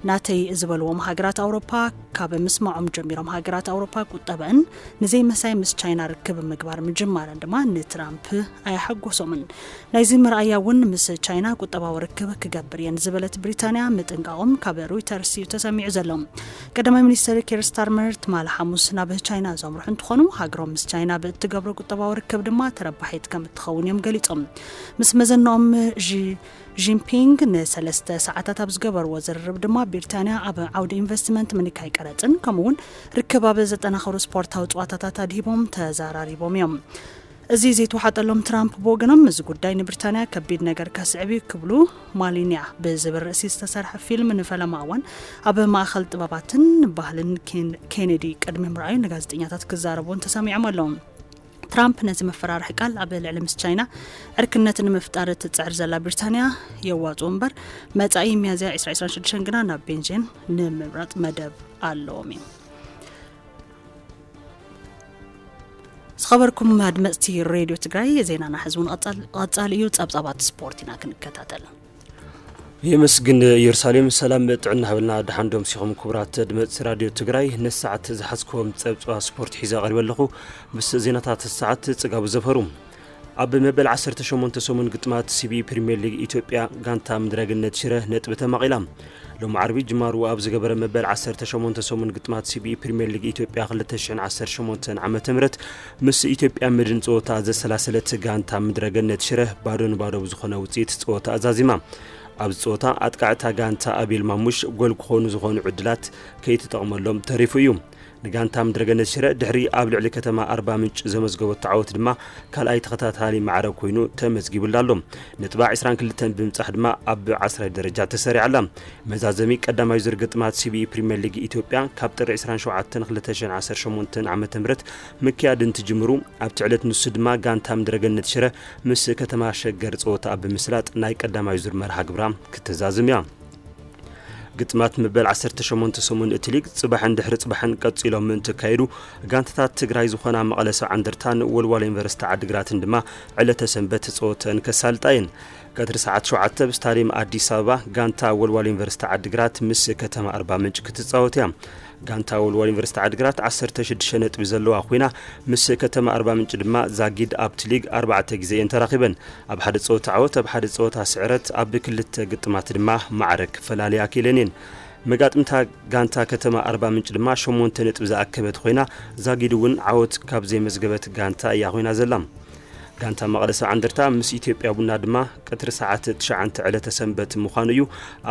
ናተይ ዝበልዎም ሃገራት ኣውሮፓ ካብ ምስማዖም ጀሚሮም ሃገራት ኣውሮፓ ቁጠበእን ንዘይመሳይ ምስ ቻይና ርክብ ምግባር ምጅማረን ድማ ንትራምፕ ኣያሓጎሶምን ናይዚ መርኣያ እውን ምስ ቻይና ቁጠባዊ ርክብ ክገብር እየን ዝበለት ብሪታንያ ምጥንቃቖም ካብ ሮይተርስ እዩ ተሰሚዑ ዘሎ ቀዳማይ ሚኒስትር ኬር ስታርመር ትማል ሓሙስ ናብ ቻይና ዘምርሑ እንትኾኑ ሃገሮም ምስ ቻይና ብእትገብሮ ቁጠባዊ ርክብ ድማ ተረባሒት ከም እትኸውን እዮም ገሊፆም ምስ መዘናኦም ዢ ዢንፒንግ ንሰለስተ ሰዓታት ኣብ ዝገበርዎ ዝርርብ ድማ ቢርታንያ ኣብ ዓውዲ ኢንቨስትመንት፣ ምንካይ ቀረፅን ከምኡ እውን ርክባብ ዘጠናኸሩ ስፖርታዊ ፅዋታታት ኣድሂቦም ተዘራሪቦም እዮም። እዚ ዘይተዋሓጠሎም ትራምፕ ብወገኖም እዚ ጉዳይ ንብርታንያ ከቢድ ነገር ከስዕብ እዩ ክብሉ ማሊንያ ብዝብል ርእሲ ዝተሰርሐ ፊልም ንፈለማ እዋን ኣብ ማእኸል ጥበባትን ባህልን ኬኔዲ ቅድሚ ምርኣዩ ንጋዜጠኛታት ክዛረቡ እውን ተሰሚዖም ኣለዉ። ትራምፕ ነዚ መፈራርሒ ቃል ኣብ ልዕሊ ምስ ቻይና ዕርክነት ንምፍጣር እትፅዕር ዘላ ብሪታንያ የዋፅኡ እምበር መፃኢ ሚያዝያ 226 ግና ናብ ቤንጂን ንምምራፅ መደብ ኣለዎም እዩ ዝኸበርኩም ኣድመፅቲ ሬድዮ ትግራይ ዜናና ሕዚ እውን ቐፃሊ እዩ ፀብፃባት ስፖርት ኢና ክንከታተል የመስግን ኢየሩሳሌም ሰላም ጥዕና ሃበልና ደሓን ዶምሲኹም ክቡራት ኣድመፅቲ ራድዮ ትግራይ ነዚ ሰዓት ዝሓዝክዎም ፀብፅባ ስፖርት ሒዘ ቀሪበ ኣለኹ ምስ ዜናታት ሰዓት ፅጋቡ ዘፈሩ ኣብ መበል 18 ሰሙን ግጥማት ሲቢ ፕሪምየር ሊግ ኢትዮጵያ ጋንታ ምድረግነት ሽረ ነጥቢ ተማቒላ ሎሚ ዓርቢ ጅማሩ ኣብ ዝገበረ መበል 18 ሰሙን ግጥማት ሲቢ ፕሪምየር ሊግ ኢትዮጵያ 2018 ዓ ም ምስ ኢትዮጵያ መድን ፀወታ ዘሰላሰለት ጋንታ ምድረገነት ሽረ ባዶ ንባዶ ብዝኾነ ውፅኢት ፀወታኣ ዛዚማ። ኣብዚ ፀወታ ኣጥቃዕታ ጋንታ ኣቤል ማሙሽ ጎል ክኾኑ ዝኾኑ ዕድላት ከይተጠቕመሎም ተሪፉ እዩ። ንጋንታ ምድረገነት ሽረ ድሕሪ ኣብ ልዕሊ ከተማ ኣርባ ምንጭ ዘመዝገበቶ ዓወት ድማ ካልኣይ ተኸታታሊ ማዕረ ኮይኑ ተመዝጊቡላ ኣሎ። ነጥባ 22 ብምብፃሕ ድማ ኣብ ዓስራይ ደረጃ ተሰሪዓ ኣላ። መዛዘሚ ቀዳማይ ዙር ግጥማት ሲቢኢ ፕሪሚየር ሊግ ኢትዮጵያ ካብ ጥሪ 27 2018 ዓ.ም ምክያድ እንትጅምሩ ኣብቲ ዕለት ንሱ ድማ ጋንታ ምድረገነት ሽረ ምስ ከተማ ሸገር ጸወታኣ ብምስላጥ ናይ ቀዳማይ ዙር መርሃ ግብራ ክትዛዝም እያ። ግጥማት መበል 18 ሰሙን እቲ ሊግ ጽባሕን ድሕሪ ጽባሕን ቀጺሎም ምእንቲ ካየዱ ጋንታታት ትግራይ ዝኾና መቐለ ሰብዓ እንደርታን ወልዋሎ ዩኒቨርሲቲ ዓድግራትን ድማ ዕለተ ሰንበት ጸወተን ከሳልጣ እየን። ቀትሪ ሰዓት ሸውዓተ ኣብ ስታድየም ኣዲስ ኣበባ ጋንታ ወልዋሎ ዩኒቨርሲቲ ዓድግራት ምስ ከተማ ኣርባ ምንጭ ክትጻወት እያ። ጋንታ ወልዋሎ ዩኒቨርሲቲ ዓድግራት ዓሰርተ ሽዱሽተ ነጥቢ ዘለዋ ኮይና ምስ ከተማ ኣርባምንጭ ድማ ዛጊድ ኣብቲ ሊግ ኣርባዕተ ግዜ እየን ተራኺበን። ኣብ ሓደ ጸወታ ዓወት፣ ኣብ ሓደ ጸወታ ስዕረት፣ ኣብ ክልተ ግጥማት ድማ ማዕረ ክፈላልያ ክኢለን እየን። መጋጥምታ ጋንታ ከተማ ኣርባምንጭ ድማ ሸሞንተ ነጥቢ ዝኣከበት ኮይና ዛጊድ'ውን ዓወት ካብ ዘይመዝገበት ጋንታ እያ ኮይና ዘላ። ጋንታ መቐለ ሰብዓ እንደርታ ምስ ኢትዮጵያ ቡና ድማ ቀትሪ ሰዓት ትሽዓንተ ዕለተ ሰንበት ምዃኑ እዩ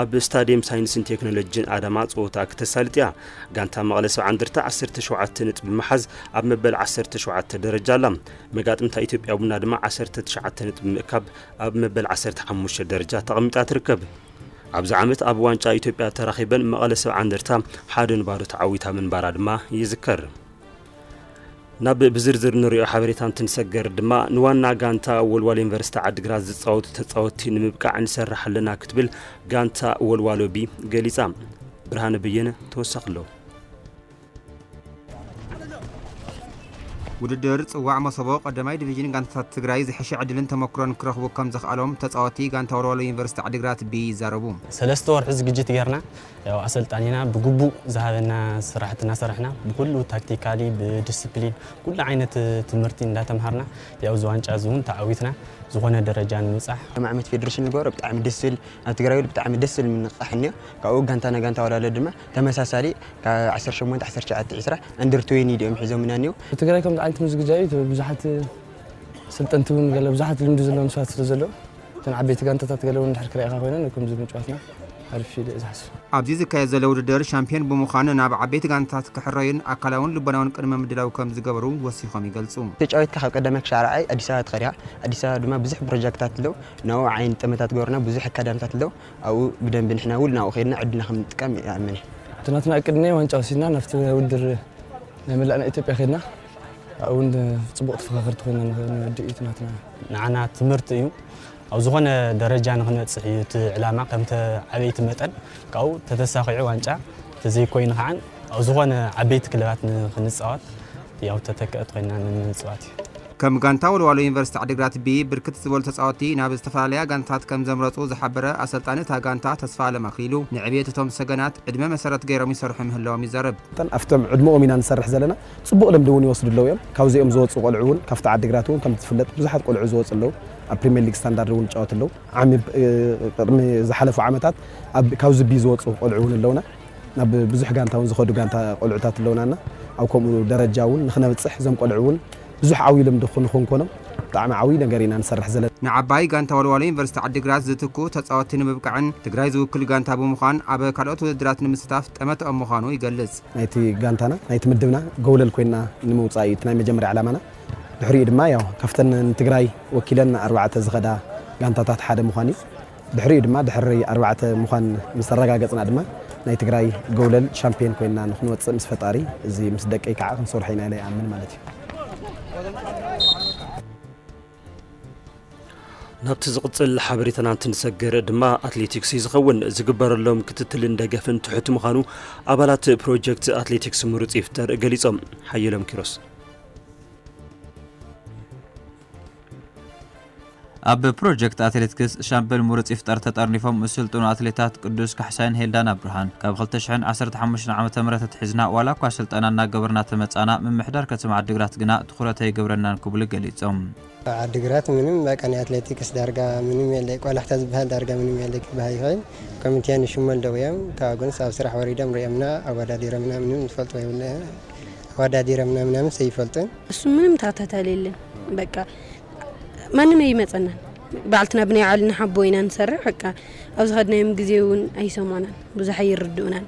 ኣብ ስታዲየም ሳይንስን ቴክኖሎጂን ኣዳማ ፀወታ ክተሳልጥ እያ። ጋንታ መቐለ ሰብዓ እንደርታ ዓሰርተ ሸውዓተ ነጥቢ ብምሓዝ ኣብ መበል ዓሰርተ ሸውዓተ ደረጃ ኣላ። መጋጥምታ ኢትዮጵያ ቡና ድማ ዓሰርተ ትሽዓተ ነጥቢ ብምእካብ ኣብ መበል ዓሰርተ ሓሙሽተ ደረጃ ተቐሚጣ ትርከብ። ኣብዚ ዓመት ኣብ ዋንጫ ኢትዮጵያ ተራኺበን መቐለ ሰብዓ እንደርታ ሓደ ንባዶ ተዓዊታ ምንባራ ድማ ይዝከር። ናብ ብዝርዝር ንሪኦ ሓበሬታ እንትንሰገር ድማ ንዋና ጋንታ ወልዋሎ ዩኒቨርሲቲ ዓድግራት ዝፃወቱ ተፃወትቲ ንምብቃዕ ንሰርሕ ኣለና ክትብል ጋንታ ወልዋሎ ቢ ገሊፃ። ብርሃነ በየነ ተወሳኺ ኣለዎ። ውድድር ፅዋዕ መሶቦ ቀዳማይ ዲቪዥን ጋንታታት ትግራይ ዝሐሸ ዕድልን ተመክሮን ክረኽቡ ከምዘኽኣሎም ተፃወቲ ጋንታ ወልዋሎ ዩኒቨርሲቲ ዓድግራት ቢ ይዛረቡ። ሰለስተ ወርሒ ዝግጅት ጌርና ያው ኣሰልጣኒና ብግቡእ ዝሃበና ስራሕቲ እናሰራሕና ብኹሉ ታክቲካሊ ብድስፕሊን ኩሉ ዓይነት ትምህርቲ እንዳተምሃርና ያው እዚ ዋንጫ እዚ እውን ተዓዊትና ዝኾነ ደረጃ ንምብፃሕ ከም ዓመት ፌደሬሽን ዝገበሮ ብጣዕሚ ደስ ዝብል ኣብ ትግራይ ብጣዕሚ ደስ ዝብል ምንቕቓሕ እኒኦ ካብኡ ጋንታ ንጋንታ ወዳለ ድማ ተመሳሳሊ ካብ 18 19 20 ኣንደር ትዌኒ ድኦም ሒዞምና እኒኦ ትግራይ ከምዚ ዓይነት ምስ ግጃ እዩ ብዙሓት ሰልጠንቲ እውን ገለ ብዙሓት ልምዲ ዘለዎም ሰባት ስለ ዘለዉ እተን ዓበይቲ ጋንታታት ገለ እውን ድሕር ክሪኢኻ ኮይነን ከምዚ ምጭዋትና ኣርፊደ እየ ዝሓስብ። ኣብዚ ዝካየድ ዘሎ ውድድር ሻምፕዮን ብምዃን ናብ ዓበይቲ ጋንታታት ክሕረዩን ኣካላውን ልቦናውን ቅድመ ምድላው ከም ዝገበሩ ወሲኾም ይገልጹ። ተጫዊትካ ካብ ቀዳማይ ክሻዕ ራብዓይ ኣዲስ ኣበባ ተኸዲኻ ኣዲስ ኣበባ ድማ ብዙሕ ፕሮጃክትታት ኣለው ናብኡ ዓይኒ ጠመታ ትገብረና ብዙሕ ኣካዳምታት ኣለው ኣብኡ ብደንቢ ንሕና እውን ናብኡ ከይድና ዕድልና ከም ንጥቀም ይኣምን እየ። እቲ ናትና እቅድ እኔ ዋንጫ ወሲድና ናብቲ ውድድር ናይ መላእ ናይ ኢትዮጵያ ከይድና ኣብኡ እውን ፅቡቕ ተፈኻኸርቲ ኮይና ንወድእ እዩ እቲ ናትና። ንዓና ትምህርቲ እዩ ኣብ ዝኾነ ደረጃ ንክንበፅሕ እዩ እቲ ዕላማ ከም ተዓበይቲ መጠን ካብኡ ተተሳኺዑ ዋንጫ ተዘይኮይኑ ከዓ ኣብ ዝኾነ ዓበይቲ ክለባት ንክንፃወት ያው ተተከእት ኮይና ንምፅዋት እዩ። ከም ጋንታ ወልዋሎ ዩኒቨርሲቲ ዓዲግራት ብ ብርክት ዝበሉ ተፃወትቲ ናብ ዝተፈላለያ ጋንታታት ከም ዘምረፁ ዝሓበረ ኣሰልጣኒ እታ ጋንታ ተስፋኣለም ኣክሊሉ ንዕብየት እቶም ሰገናት ዕድመ መሰረት ገይሮም ይሰርሑ ምህላዎም ይዛረብ። መጠን ኣብቶም ዕድመኦም ኢና ንሰርሕ ዘለና ፅቡቕ ልምዲ እውን ይወስዱ ኣለው እዮም። ካብዚኦም ዝወፁ ቆልዑ እውን ካብቲ ዓዲግራት እውን ከምቲ ዝፍለጥ ብዙሓት ቆልዑ ዝወፁ ኣለው። ኣብ ፕሪሚየር ሊግ ስታንዳርድ እውን ይጫወቱ ኣለዉ። ዓሚ ቅድሚ ዝሓለፉ ዓመታት ካብ ዝቢ ዝወፁ ቆልዑ እውን ኣለውና። ናብ ብዙሕ ጋንታ እውን ዝኸዱ ጋንታ ቆልዑታት ኣለውናና ኣብ ከምኡ ደረጃ እውን ንክነብፅሕ እዞም ቆልዑ እውን ብዙሕ ዓብዪ ልምዲ ንክንኮኖም ብጣዕሚ ዓብዪ ነገር ኢና ንሰርሕ ዘለና። ንዓባይ ጋንታ ወልዋሎ ዩኒቨርሲቲ ዓዲግራት ዝትክኡ ተፃወትቲ ንምብቃዕን ትግራይ ዝውክል ጋንታ ብምዃን ኣብ ካልኦት ውድድራት ንምስታፍ ጠመተኦም ምዃኑ ይገልፅ። ናይቲ ጋንታና ናይቲ ምድብና ጎብለል ኮይንና ንምውፃእ እዩ እቲ ናይ መጀመርያ ዕላማና። ድሕሪኡ ድማ ያው ካብተን ንትግራይ ወኪለን ኣርባዕተ ዝኸዳ ጋንታታት ሓደ ምዃን እዩ። ድሕሪኡ ድማ ድሕሪ ኣርባዕተ ምዃን ምስ ኣረጋገጽና ድማ ናይ ትግራይ ጎውለል ሻምፒዮን ኮይና ንክንወጽእ ምስ ፈጣሪ እዚ ምስ ደቀይ ከዓ ክንሰርሖ ኢና ኢለ ይኣምን ማለት እዩ። ናብቲ ዝቕጽል ሓበሬታና እንትንሰገር ድማ ኣትሌቲክስ እዩ ዝኸውን። ዝግበረሎም ክትትልን ደገፍን ትሑት ምዃኑ ኣባላት ፕሮጀክት ኣትሌቲክስ ምሩጽ ይፍጠር ገሊጾም። ሓየሎም ኪሮስ ኣብ ፕሮጀክት ኣትሌትክስ ሻምበል ምሩፅ ይፍጠር ተጠርኒፎም ዝስልጥኑ ኣትሌታት ቅዱስ ካሕሳይን ሄልዳና ብርሃን ካብ 2015 ዓ.ም ኣትሒዝና ዋላ እኳ ስልጠና እናገበርና ተመፃእና ምምሕዳር ከተማ ዓዲግራት ግና ትኹረት ኣይገብረናን ክብሉ ገሊፆም። ኣብ ዓዲግራት ምንም በቃ ናይ ኣትሌቲክስ ዳርጋ ምንም የለይ ቆላሕታ ዝብሃል ዳርጋ ምንም የለይ ክብሃል ይኽእል ኮሚቴ ንሽሙ ኣለው እዮም ካብኡ ግንስ ኣብ ስራሕ ወሪዶም ሪኦምና ኣወዳዲሮምና ምንም ዝፈልጥዎ የብለን ኣወዳዲሮምና ምናምንስ ኣይፈልጡን እሱ ምንም ተኸታታሊ የለን በቃ ማንም ኣይመፀናን ባዕልትና ብናይ ባዕልና ሓቦ ኢና ንሰርሕ በቃ ኣብ ዝኸድናዮም ግዜ እውን ኣይሰምዑናን ብዙሕ ኣይርድኡናን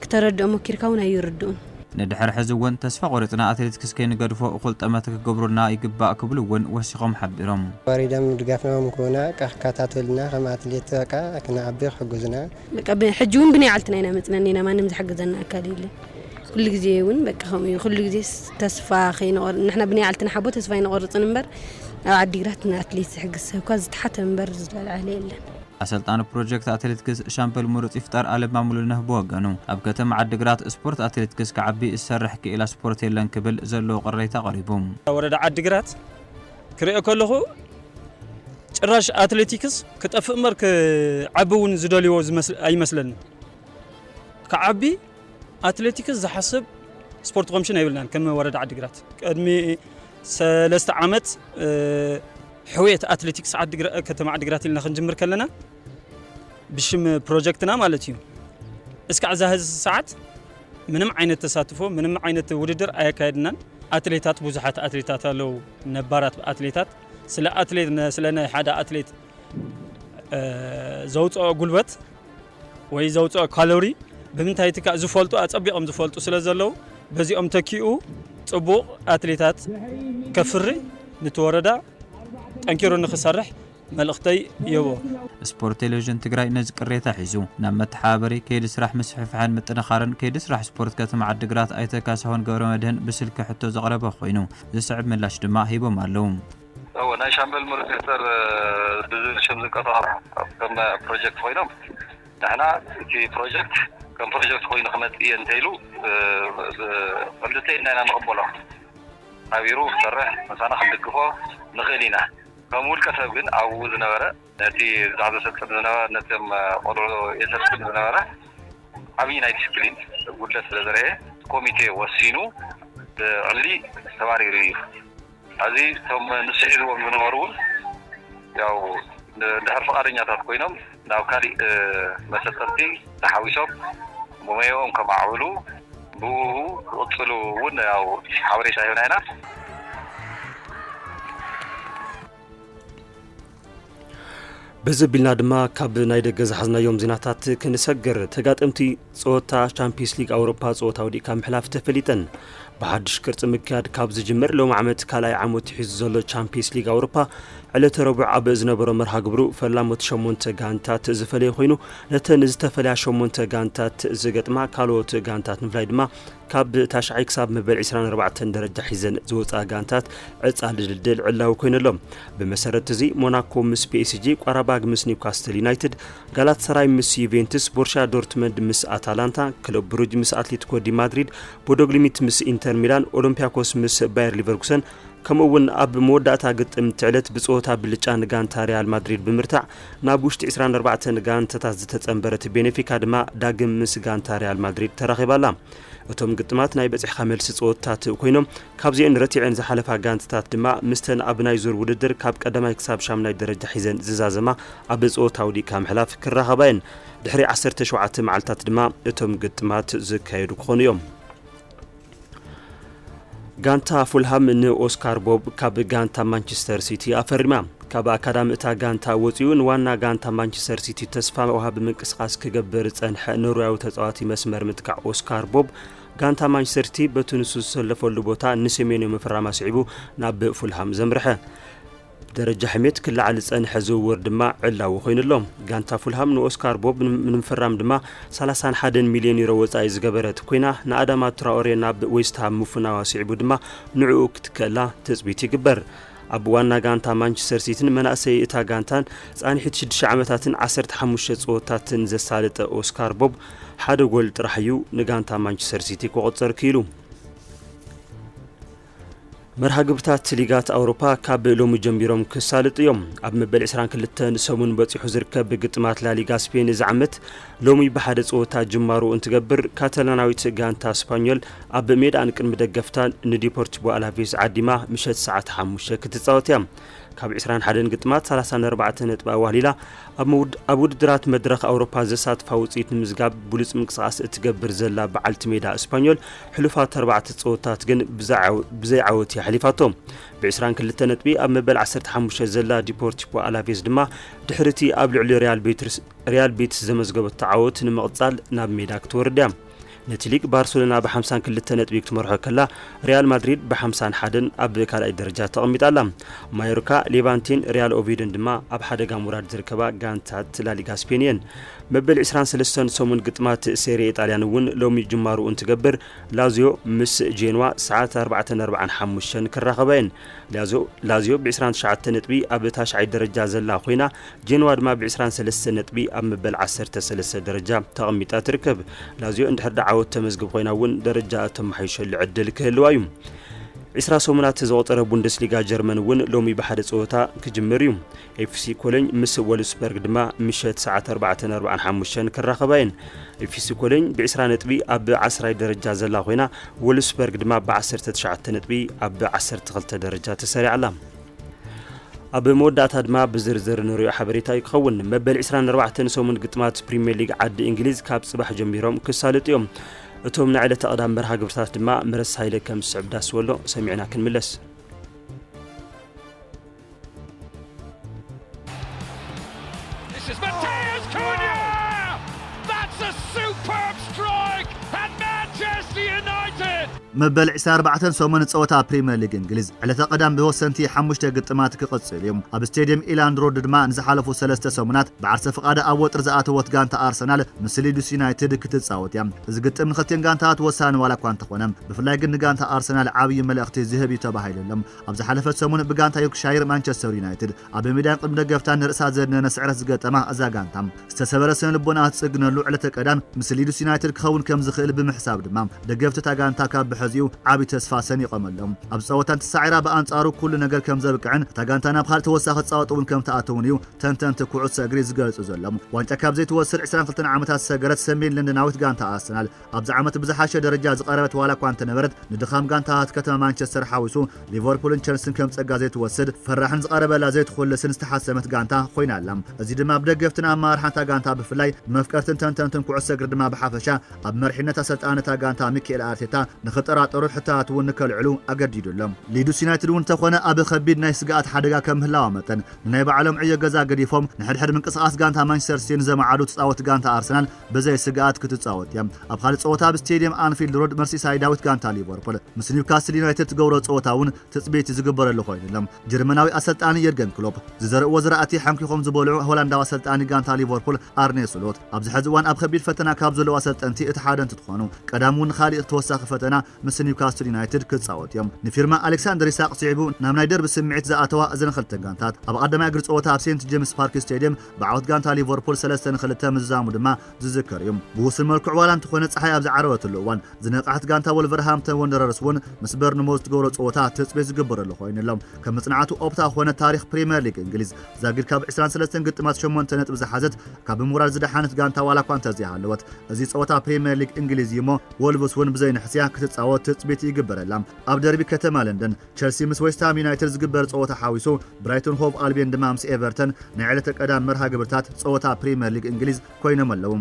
ክተረድኦ ሞኪርካ ውን ኣይርድኡን። ንድሕሪ ሕዚ ውን ተስፋ ቆሪጽና ኣትሌትክስ ከይንገድፎ እኹል ጠመተ ክገብሩልና ይግባእ ክብሉ ውን ወሲኾም ሓቢሮም። ወሪዶም ንድጋፍና ውን ክህቡና እቃ ክከታተሉልና ከም ኣትሌት እቃ ክንዓቢ ክሕግዙና። በቃ ሕጂ ውን ብናይ ዓልትና ኢና መጽናኒና ማንም ዝሕግዘና ኣካል የለን ኩሉ ግዜ ውን በቃ ከምኡ እዩ ኩሉ ግዜስ ተስፋ ከይንቆርጽ ንሕና ብናይ ዓልትና ሓቦ ተስፋ ኣይንቆርጽን እምበር ኣብ ዓዲግራት ንኣትሌት ዝሕግዝ ሰብኳ ዝተሓተ እምበር ዝለዓለ የለን። ኣሰልጣኒ ፕሮጀክት ኣትሌትክስ ሻምበል ምሩፅ ይፍጠር ኣለማ ሙሉነህ ብወገኑ፣ ኣብ ከተማ ዓዲግራት ስፖርት ኣትሌትክስ ክዓቢ ዝሰርሕ ክኢላ ስፖርት የለን ክብል ዘለዎ ቅሬታ ኣቕሪቡ። ወረዳ ዓዲግራት ክሪኦ ከለኹ ጭራሽ ኣትሌቲክስ ክጠፍእ እምበር ክዓቢ እውን ዝደልይዎ ኣይመስለንን። ክዓቢ ኣትሌቲክስ ዝሓስብ ስፖርት ኮምሽን የብልናን ከም ወረዳ ዓዲግራት ቅድሚ ሰለስተ ዓመት ሕውየት ኣትሌቲክስ ከተማ ዓዲግራት ኢልና ክንጅምር ከለና ብሽም ፕሮጀክትና ማለት እዩ እስካዕ እዛ ህዚ ሰዓት ምንም ዓይነት ተሳትፎ ምንም ዓይነት ውድድር ኣየካየድናን። ኣትሌታት ብዙሓት ኣትሌታት ኣለዉ ነባራት ኣትሌታት ስለ ኣትሌት ስለ ናይ ሓደ ኣትሌት ዘውፅኦ ጉልበት ወይ ዘውጽኦ ካሎሪ ብምንታይ ይትካእ ዝፈልጡ ኣጸቢቖም ዝፈልጡ ስለ ዘለዉ በዚኦም ተኪኡ ጽቡቕ ኣትሌታት ከፍሪ ንቲ ወረዳ ጠንኪሩ ንክሰርሕ መልእኽተይ የቦ። ስፖርት ቴሌቪዥን ትግራይ ነዚ ቅሬታ ሒዙ ናብ መተሓባበሪ ከይዲ ስራሕ ምስፍሕፋሕን ምጥንኻርን ከይዲ ስራሕ ስፖርት ከተማ ዓዲግራት ኣይተ ካሳሁን ገብረመድህን ብስልኪ ሕቶ ዘቕረበ ኮይኑ ዝስዕብ ምላሽ ድማ ሂቦም ኣለው። እወ ናይ ሻምበል ምሩፅ ይፍጠር ብዝብል ሽም ዝንቀሳቐሱ ከም ፕሮጀክት ኮይኖም ንሕና እቲ ፕሮጀክት ከም ፕሮጀክት ኮይኑ ክመፅእ እየ እንተይሉ ብክልተ ኢድና ኢና ንቕበሎ ሓቢሩ ክሰርሕ ምሳና ክንድግፎ ንኽእል ኢና ከም ውልቀ ሰብ ግን ኣብኡ ዝነበረ ነቲ ብዛዕ ዘሰልጥን ዝነበረ ነቶም ቆልዑ የሰልጥን ዝነበረ ዓብዪ ናይ ዲስፕሊን ጉድለት ስለ ዘርኤ እቲ ኮሚቴ ወሲኑ ብዕሊ ተባሪሩ እዩ። ሐዚ እቶም ንሱ ሒዝዎም ዝነበሩ እውን ያው እንድሕር ፍቓደኛታት ኮይኖም ናብ ካሊእ መሰልጠንቲ ተሓዊሶም ሞየኦም ከማዕብሉ ብእኡ ክቕፅሉ እውን ያው ሓበሬታ ሂብና ኢና። በዚ ኣቢልና ድማ ካብ ናይ ደገ ዝሓዝናዮም ዜናታት ክንሰግር ተጋጠምቲ ፀወታ ቻምፒየንስ ሊግ ኣውሮፓ ፀወታ ወዲእካ ምሕላፍ ተፈሊጠን ብሓድሽ ቅርፂ ምክያድ ካብ ዝጅምር ሎም ዓመት ካልኣይ ዓመቱ ሒዙ ዘሎ ቻምፒየንስ ሊግ ኣውሮፓ ዕለተ ረቡዕ ኣብ ዝነበሮ መርሃ ግብሩ ፈላሞት ሸሞንተ ጋንታት ዝፈለየ ኮይኑ ነተን ዝተፈለያ ሸሞንተ ጋንታት ዝገጥማ ካልኦት ጋንታት ምፍላይ ድማ ካብ ታሽዓይ ክሳብ መበል 24 ደረጃ ሒዘን ዝወፃ ጋንታት ዕፃ ድልድል ዕላዊ ኮይኑ ኣሎ። ብመሰረት እዚ ሞናኮ ምስ ፒኤስጂ፣ ቋራባግ ምስ ኒውካስትል ዩናይትድ፣ ጋላት ሰራይ ምስ ዩቬንቱስ፣ ቦርሻ ዶርትመንድ ምስ ኣታላንታ፣ ክለብ ብሩጅ ምስ ኣትሌቲኮ ዲ ማድሪድ፣ ቦዶግሊሚት ምስ ኢንተር ሚላን፣ ኦሎምፒያኮስ ምስ ባየር ሊቨርኩሰን፣ ከምኡ እውን ኣብ መወዳእታ ግጥም ትዕለት ብፀወታ ብልጫ ንጋንታ ሪያል ማድሪድ ብምርታዕ ናብ ውሽጢ ዕስራን ኣርባዕተን ጋንታታት ዝተፀምበረት ቤኔፊካ ድማ ዳግም ምስ ጋንታ ሪያል ማድሪድ ተራኺባ ኣላ። እቶም ግጥማት ናይ በፂሕካ መልሲ ፀወታታት ኮይኖም ካብዚኤን ረቲዐን ዝሓለፋ ጋንታታት ድማ ምስተን ኣብ ናይ ዙር ውድድር ካብ ቀዳማይ ክሳብ ሻምናይ ደረጃ ሒዘን ዝዛዘማ ኣብ ፀወታ ውዲእካ ምሕላፍ ክራኸባ እየን። ድሕሪ ዓሰርተ ሸውዓተ መዓልታት ድማ እቶም ግጥማት ዝካየዱ ክኾኑ እዮም። ጋንታ ፉልሃም ንኦስካር ቦብ ካብ ጋንታ ማንቸስተር ሲቲ ኣፈሪማ ካብ ኣካዳሚ እታ ጋንታ ወፂኡ ንዋና ጋንታ ማንቸስተር ሲቲ ተስፋ ወሃቢ ምንቅስቓስ ክገብር ዝፀንሐ ኖርያዊ ተፃዋቲ መስመር ምጥቃዕ ኦስካር ቦብ ጋንታ ማንቸስተር ሲቲ በቲ ንሱ ዝሰለፈሉ ቦታ ንሰሜንዮ ምፍራም ኣስዒቡ ናብ ፉልሃም ዘምርሐ ደረጃ ሕሜት ክለዓል ዝጸንሐ ዝውውር ድማ ዕላዊ ኮይኑ ኣሎ። ጋንታ ፉልሃም ንኦስካር ቦብ ንምፍራም ድማ ሰላሳን ሓደን ሚልዮን ዩሮ ወጻኢ ዝገበረት ኮይና ንኣዳማ ትራኦሬ ናብ ዌስትሃም ምፍናዋ ስዒቡ ድማ ንዕኡ ክትከላ ትጽቢት ይግበር። ኣብ ዋና ጋንታ ማንቸስተር ሲቲን መናእሰይ እታ ጋንታን ጻንሒት ሽዱሽተ ዓመታትን ዓሰርተ ሓሙሽተ ጸወታትን ዘሳለጠ ኦስካር ቦብ ሓደ ጎል ጥራሕ እዩ ንጋንታ ማንቸስተር ሲቲ ከቖጽር ክኢሉ። መርሃ ግብርታት ሊጋት ኣውሮፓ ካብ ሎሚ ጀሚሮም ክሳልጡ እዮም። ኣብ መበል 22 ሰሙን በፂሑ ዝርከብ ግጥማት ላሊጋ ስፔን እዚ ዓመት ሎሚ ብሓደ ፀወታ ጅማሩ እንትገብር ካታላናዊት ጋንታ ስፓኞል ኣብ ሜዳኣን ቅድሚ ደገፍታን ንዲፖርቲቮ ኣላቬስ ዓዲማ ምሸት ሰዓት 5 ክትፃወት እያ። ካብ 21 ግጥማት 34 ነጥቢ ኣዋህሊላ ኣብ ውድድራት መድረኽ ኣውሮፓ ዘሳትፋ ውፅኢት ንምዝጋብ ብሉፅ ምንቅስቓስ እትገብር ዘላ በዓልቲ ሜዳ ስፓኞል ሕሉፋት ኣርባዕተ ጸወታት ግን ብዘይ ዓወት እያ ሓሊፋቶ። ብዕስራን ክልተ ነጥቢ ኣብ መበል ዓሰርተ ሓሙሽተ ዘላ ዲፖርቲፖ ኣላቬዝ ድማ ድሕሪ እቲ ኣብ ልዕሊ ሪያል ቤትስ ዘመዝገበቶ ዓወት ንምቕጻል ናብ ሜዳ ክትወርድ እያ። ነቲ ሊግ ባርሰሎና ብሓምሳን ክልተ ነጥቢ ክትመርሖ ከላ ሪያል ማድሪድ ብሓምሳን ሓደን ኣብ ካልኣይ ደረጃ ተቐሚጣ ኣላ። ማዮርካ፣ ሌቫንቴን ሪያል ኦቪዮዶን ድማ ኣብ ሓደጋ ምውራድ ዝርከባ ጋንታት ላሊጋ ስፔን እየን። መበል ዕስራን ሰለስተን ሰሙን ግጥማት ሴሪኤ ጣልያን እውን ሎሚ ጅማርኡ እንትገብር ላዝዮ ምስ ጄንዋ ሰዓት ኣርባዕተን ኣርብዓን ሓሙሽተን ክራኸባ እየን። ላዝዮ ላዝዮ ብዕስራን ትሽዓተ ነጥቢ ኣብ ታሽዓይ ደረጃ ዘላ ኮይና ጄንዋ ድማ ብዕስራን ሰለስተ ነጥቢ ኣብ መበል ዓሰርተ ሰለስተ ደረጃ ተቐሚጣ ትርከብ። ላዝዮ እንድሕር ዳ ዓወት ተመዝግብ ኮይና እውን ደረጃኣ እተመሓይሸሉ ዕድል ክህልዋ እዩ። ዕስራ ሰሙናት ዘቑፀረ ቡንደስሊጋ ጀርመን እውን ሎሚ ብሓደ ፀወታ ክጅምር እዩ። ኤፍሲ ኮሎኝ ምስ ወልፍስበርግ ድማ ምሸት ሰዓት ኣርባዕተን ኣርብዓን ሓሙሽተን ክራኸባ እየን። ኤፍሲ ኮሎኝ ብዒስራ ነጥቢ ኣብ ዓስራይ ደረጃ ዘላ ኮይና ወልፍስበርግ ድማ ብዓሰርተ ትሽዓተ ነጥቢ ኣብ ዓሰርተ ክልተ ደረጃ ተሰሪዓ ኣላ። ኣብ መወዳእታ ድማ ብዝርዝር ንሪኦ ሓበሬታ እዩ ክኸውን። መበል ዕስራን ኣርባዕተን ሰሙን ግጥማት ፕሪምየር ሊግ ዓዲ እንግሊዝ ካብ ጽባሕ ጀሚሮም ክሳለጡ እዮም። እቶም ናይ ዕለተ ቀዳም መርሃ ግብርታት ድማ ምረሳ ሃይለ ከም ዝስዕብ ዳስወሎ ሰሚዕና ክንምለስ። This is Mateus Cunha! That's a superb strike! And Manchester United! መበል 24 ሰሙን ጸወታ ፕሪምየር ሊግ እንግሊዝ ዕለተ ቀዳም ብወሰንቲ ሓሙሽተ ግጥማት ክቕጽል እዩ ኣብ ስቴድየም ኢላንድ ሮድ ድማ ንዝሓለፉ ሰለስተ ሰሙናት ብዓርሰ ፍቓደ ኣብ ወጥሪ ዝኣተወት ጋንታ ኣርሰናል ምስ ሊድስ ዩናይትድ ክትጻወት እያ እዚ ግጥም ንክልቲን ጋንታታት ወሳኒ ዋላ እኳ እንተኾነ ብፍላይ ግን ንጋንታ ኣርሰናል ዓብዪ መልእኽቲ ዝህብ እዩ ተባሂሉ ኣሎ ኣብ ዝሓለፈት ሰሙን ብጋንታ ዮርክሻይር ማንቸስተር ዩናይትድ ኣብ ሜዳን ቅድሚ ደገፍታን ንርእሳ ዘድነነ ስዕረት ዝገጠማ እዛ ጋንታ፣ ዝተሰበረ ስነልቦናኣ እትጽግነሉ ዕለተ ቀዳም ምስ ሊድስ ዩናይትድ ክኸውን ከም ዝኽእል ብምሕሳብ ድማ ደገፍቲ እታ ጋንታ ካብ ብሐዚኡ ዓቢ ተስፋ ሰኒቖምሎም ኣብዚ ጸወታ እንተሳዒራ ብኣንጻሩ ኩሉ ነገር ከም ዘብቅዕን እታ ጋንታ ናብ ካልእ ተወሳኺ ጻወት እውን ከም ትኣትውን እዩ ተንተንቲ ኩዕሶ እግሪ ዝገልጹ ዘሎም። ዋንጫ ካብ ዘይትወስድ ዕስራን ክልተን ዓመታት ዝሰገረት ሰሜን ለንደናዊት ጋንታ ኣርሰናል፣ ኣብዚ ዓመት ብዝሓሸ ደረጃ ዝቐረበት ዋላ እኳ እንተነበረት ንድኻም ጋንታታት ከተማ ማንቸስተር ሓዊሱ ሊቨርፑልን ቸልስን ከም ጸጋ ዘይትወስድ ፈራሕን ዝቐረበላ ዘይትኹልስን ዝተሓሰመት ጋንታ ኮይና ኣላ። እዚ ድማ ብደገፍትን ኣመራርሓን'ታ ጋንታ ብፍላይ ብመፍቀርትን ተንተንትን ኩዕሶ እግሪ ድማ ብሓፈሻ ኣብ መሪሕነት ኣሰልጣኒ እታ ጋንታ ሚኪኤል ኣርቴታ ንኽጠራጠሩ ሕቶታት እውን ንከልዕሉ ኣገዲዱ ኣሎ። ሊድስ ዩናይትድ እውን እንተኾነ ኣብ ከቢድ ናይ ስግኣት ሓደጋ ከም ምህላዋ መጠን ንናይ ባዕሎም ዕዮ ገዛ ገዲፎም ንሕድሕድ ምንቅስቓስ ጋንታ ማንቸስተር ሲቲን ዘማዕዱ ተጻወቲ ጋንታ ኣርሰናል ብዘይ ስግኣት ክትጻወት እያ። ኣብ ኻልእ ጸወታ ኣብ ስቴድየም ኣንፊልድ ሮድ መርሲሳይዳዊት ጋንታ ሊቨርፑል ምስ ኒውካስል ዩናይትድ ትገብሮ ጸወታ እውን ትጽቢት ዝግበረሉ ኮይኑ ኣሎ። ጀርመናዊ ኣሰልጣኒ የርገን ክሎፕ ዝዘርእዎ ዝራእቲ ሓንኪኾም ዝበልዑ ሆላንዳዊ ኣሰልጣኒ ጋንታ ሊቨርፑል ኣርኔ ስሎት ኣብዚ ሕዚ እዋን ኣብ ኸቢድ ፈተና ካብ ዘለዉ ኣሰልጠንቲ እቲ ሓደ እንትትኾኑ ቀዳም እውን ኻሊእ ተወሳኺ ፈተና ምስ ኒውካስል ዩናይትድ ክጻወቱ እዮም። ንፊርማ ኣሌክሳንደር ኢሳቕ ስዒቡ ናብ ናይ ደርቢ ስምዒት ዝኣተዋ እዘን ኽልተ ጋንታት ኣብ ቐዳማይ እግሪ ጸወታ ኣብ ሴንት ጄምስ ፓርክ ስቴድየም ብዓወት ጋንታ ሊቨርፑል ሰለስተ ን ክልተ ምዝዛሙ ድማ ዝዝከር እዩ። ብውሱን መልክዑ ዋላ እንተኾነ ጸሓይ ኣብ ዝዓረበትሉ እዋን ዝነቕዐት ጋንታ ወልቨርሃምፕተን ወንደረርስ እውን ምስ በርንሞዝ ትገብሮ ጸወታ ትጽቢት ዝግበረሉ ኮይኑ ኣሎ። ከም መጽናዕቲ ኦፕታ ኮነ ታሪኽ ፕሪመር ሊግ እንግሊዝ ዛጊድ ካብ ዕስራን ሰለስተን ግጥማት ሸሞንተ ነጥቢ ዝሓዘት ካብ ብሞራል ዝደሓነት ጋንታ ዋላኳ እንተዘይሃለወት እዚ ጸወታ ፕሪመር ሊግ እንግሊዝ እዩሞ ወልቭስ እውን ብዘይንሕስያ ክትጻወት ትጽቢት ይግበረላ። ኣብ ደርቢ ከተማ ለንደን ቸልሲ ምስ ዌስትሃም ዩናይትድ ዝግበር ጸወታ ሓዊሱ ብራይቶን ሆቭ ኣልብየን ድማ ምስ ኤቨርተን ናይ ዕለተ ቀዳም መርሃ ግብርታት ጸወታ ፕሪመር ሊግ እንግሊዝ ኮይኖም ኣለዉ።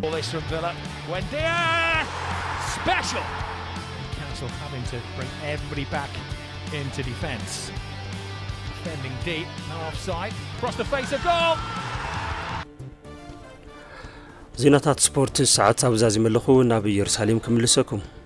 ዜናታት ስፖርት ሰዓት ኣብዛዚመለኹ ናብ ኢየሩሳሌም ክምልሰኩም።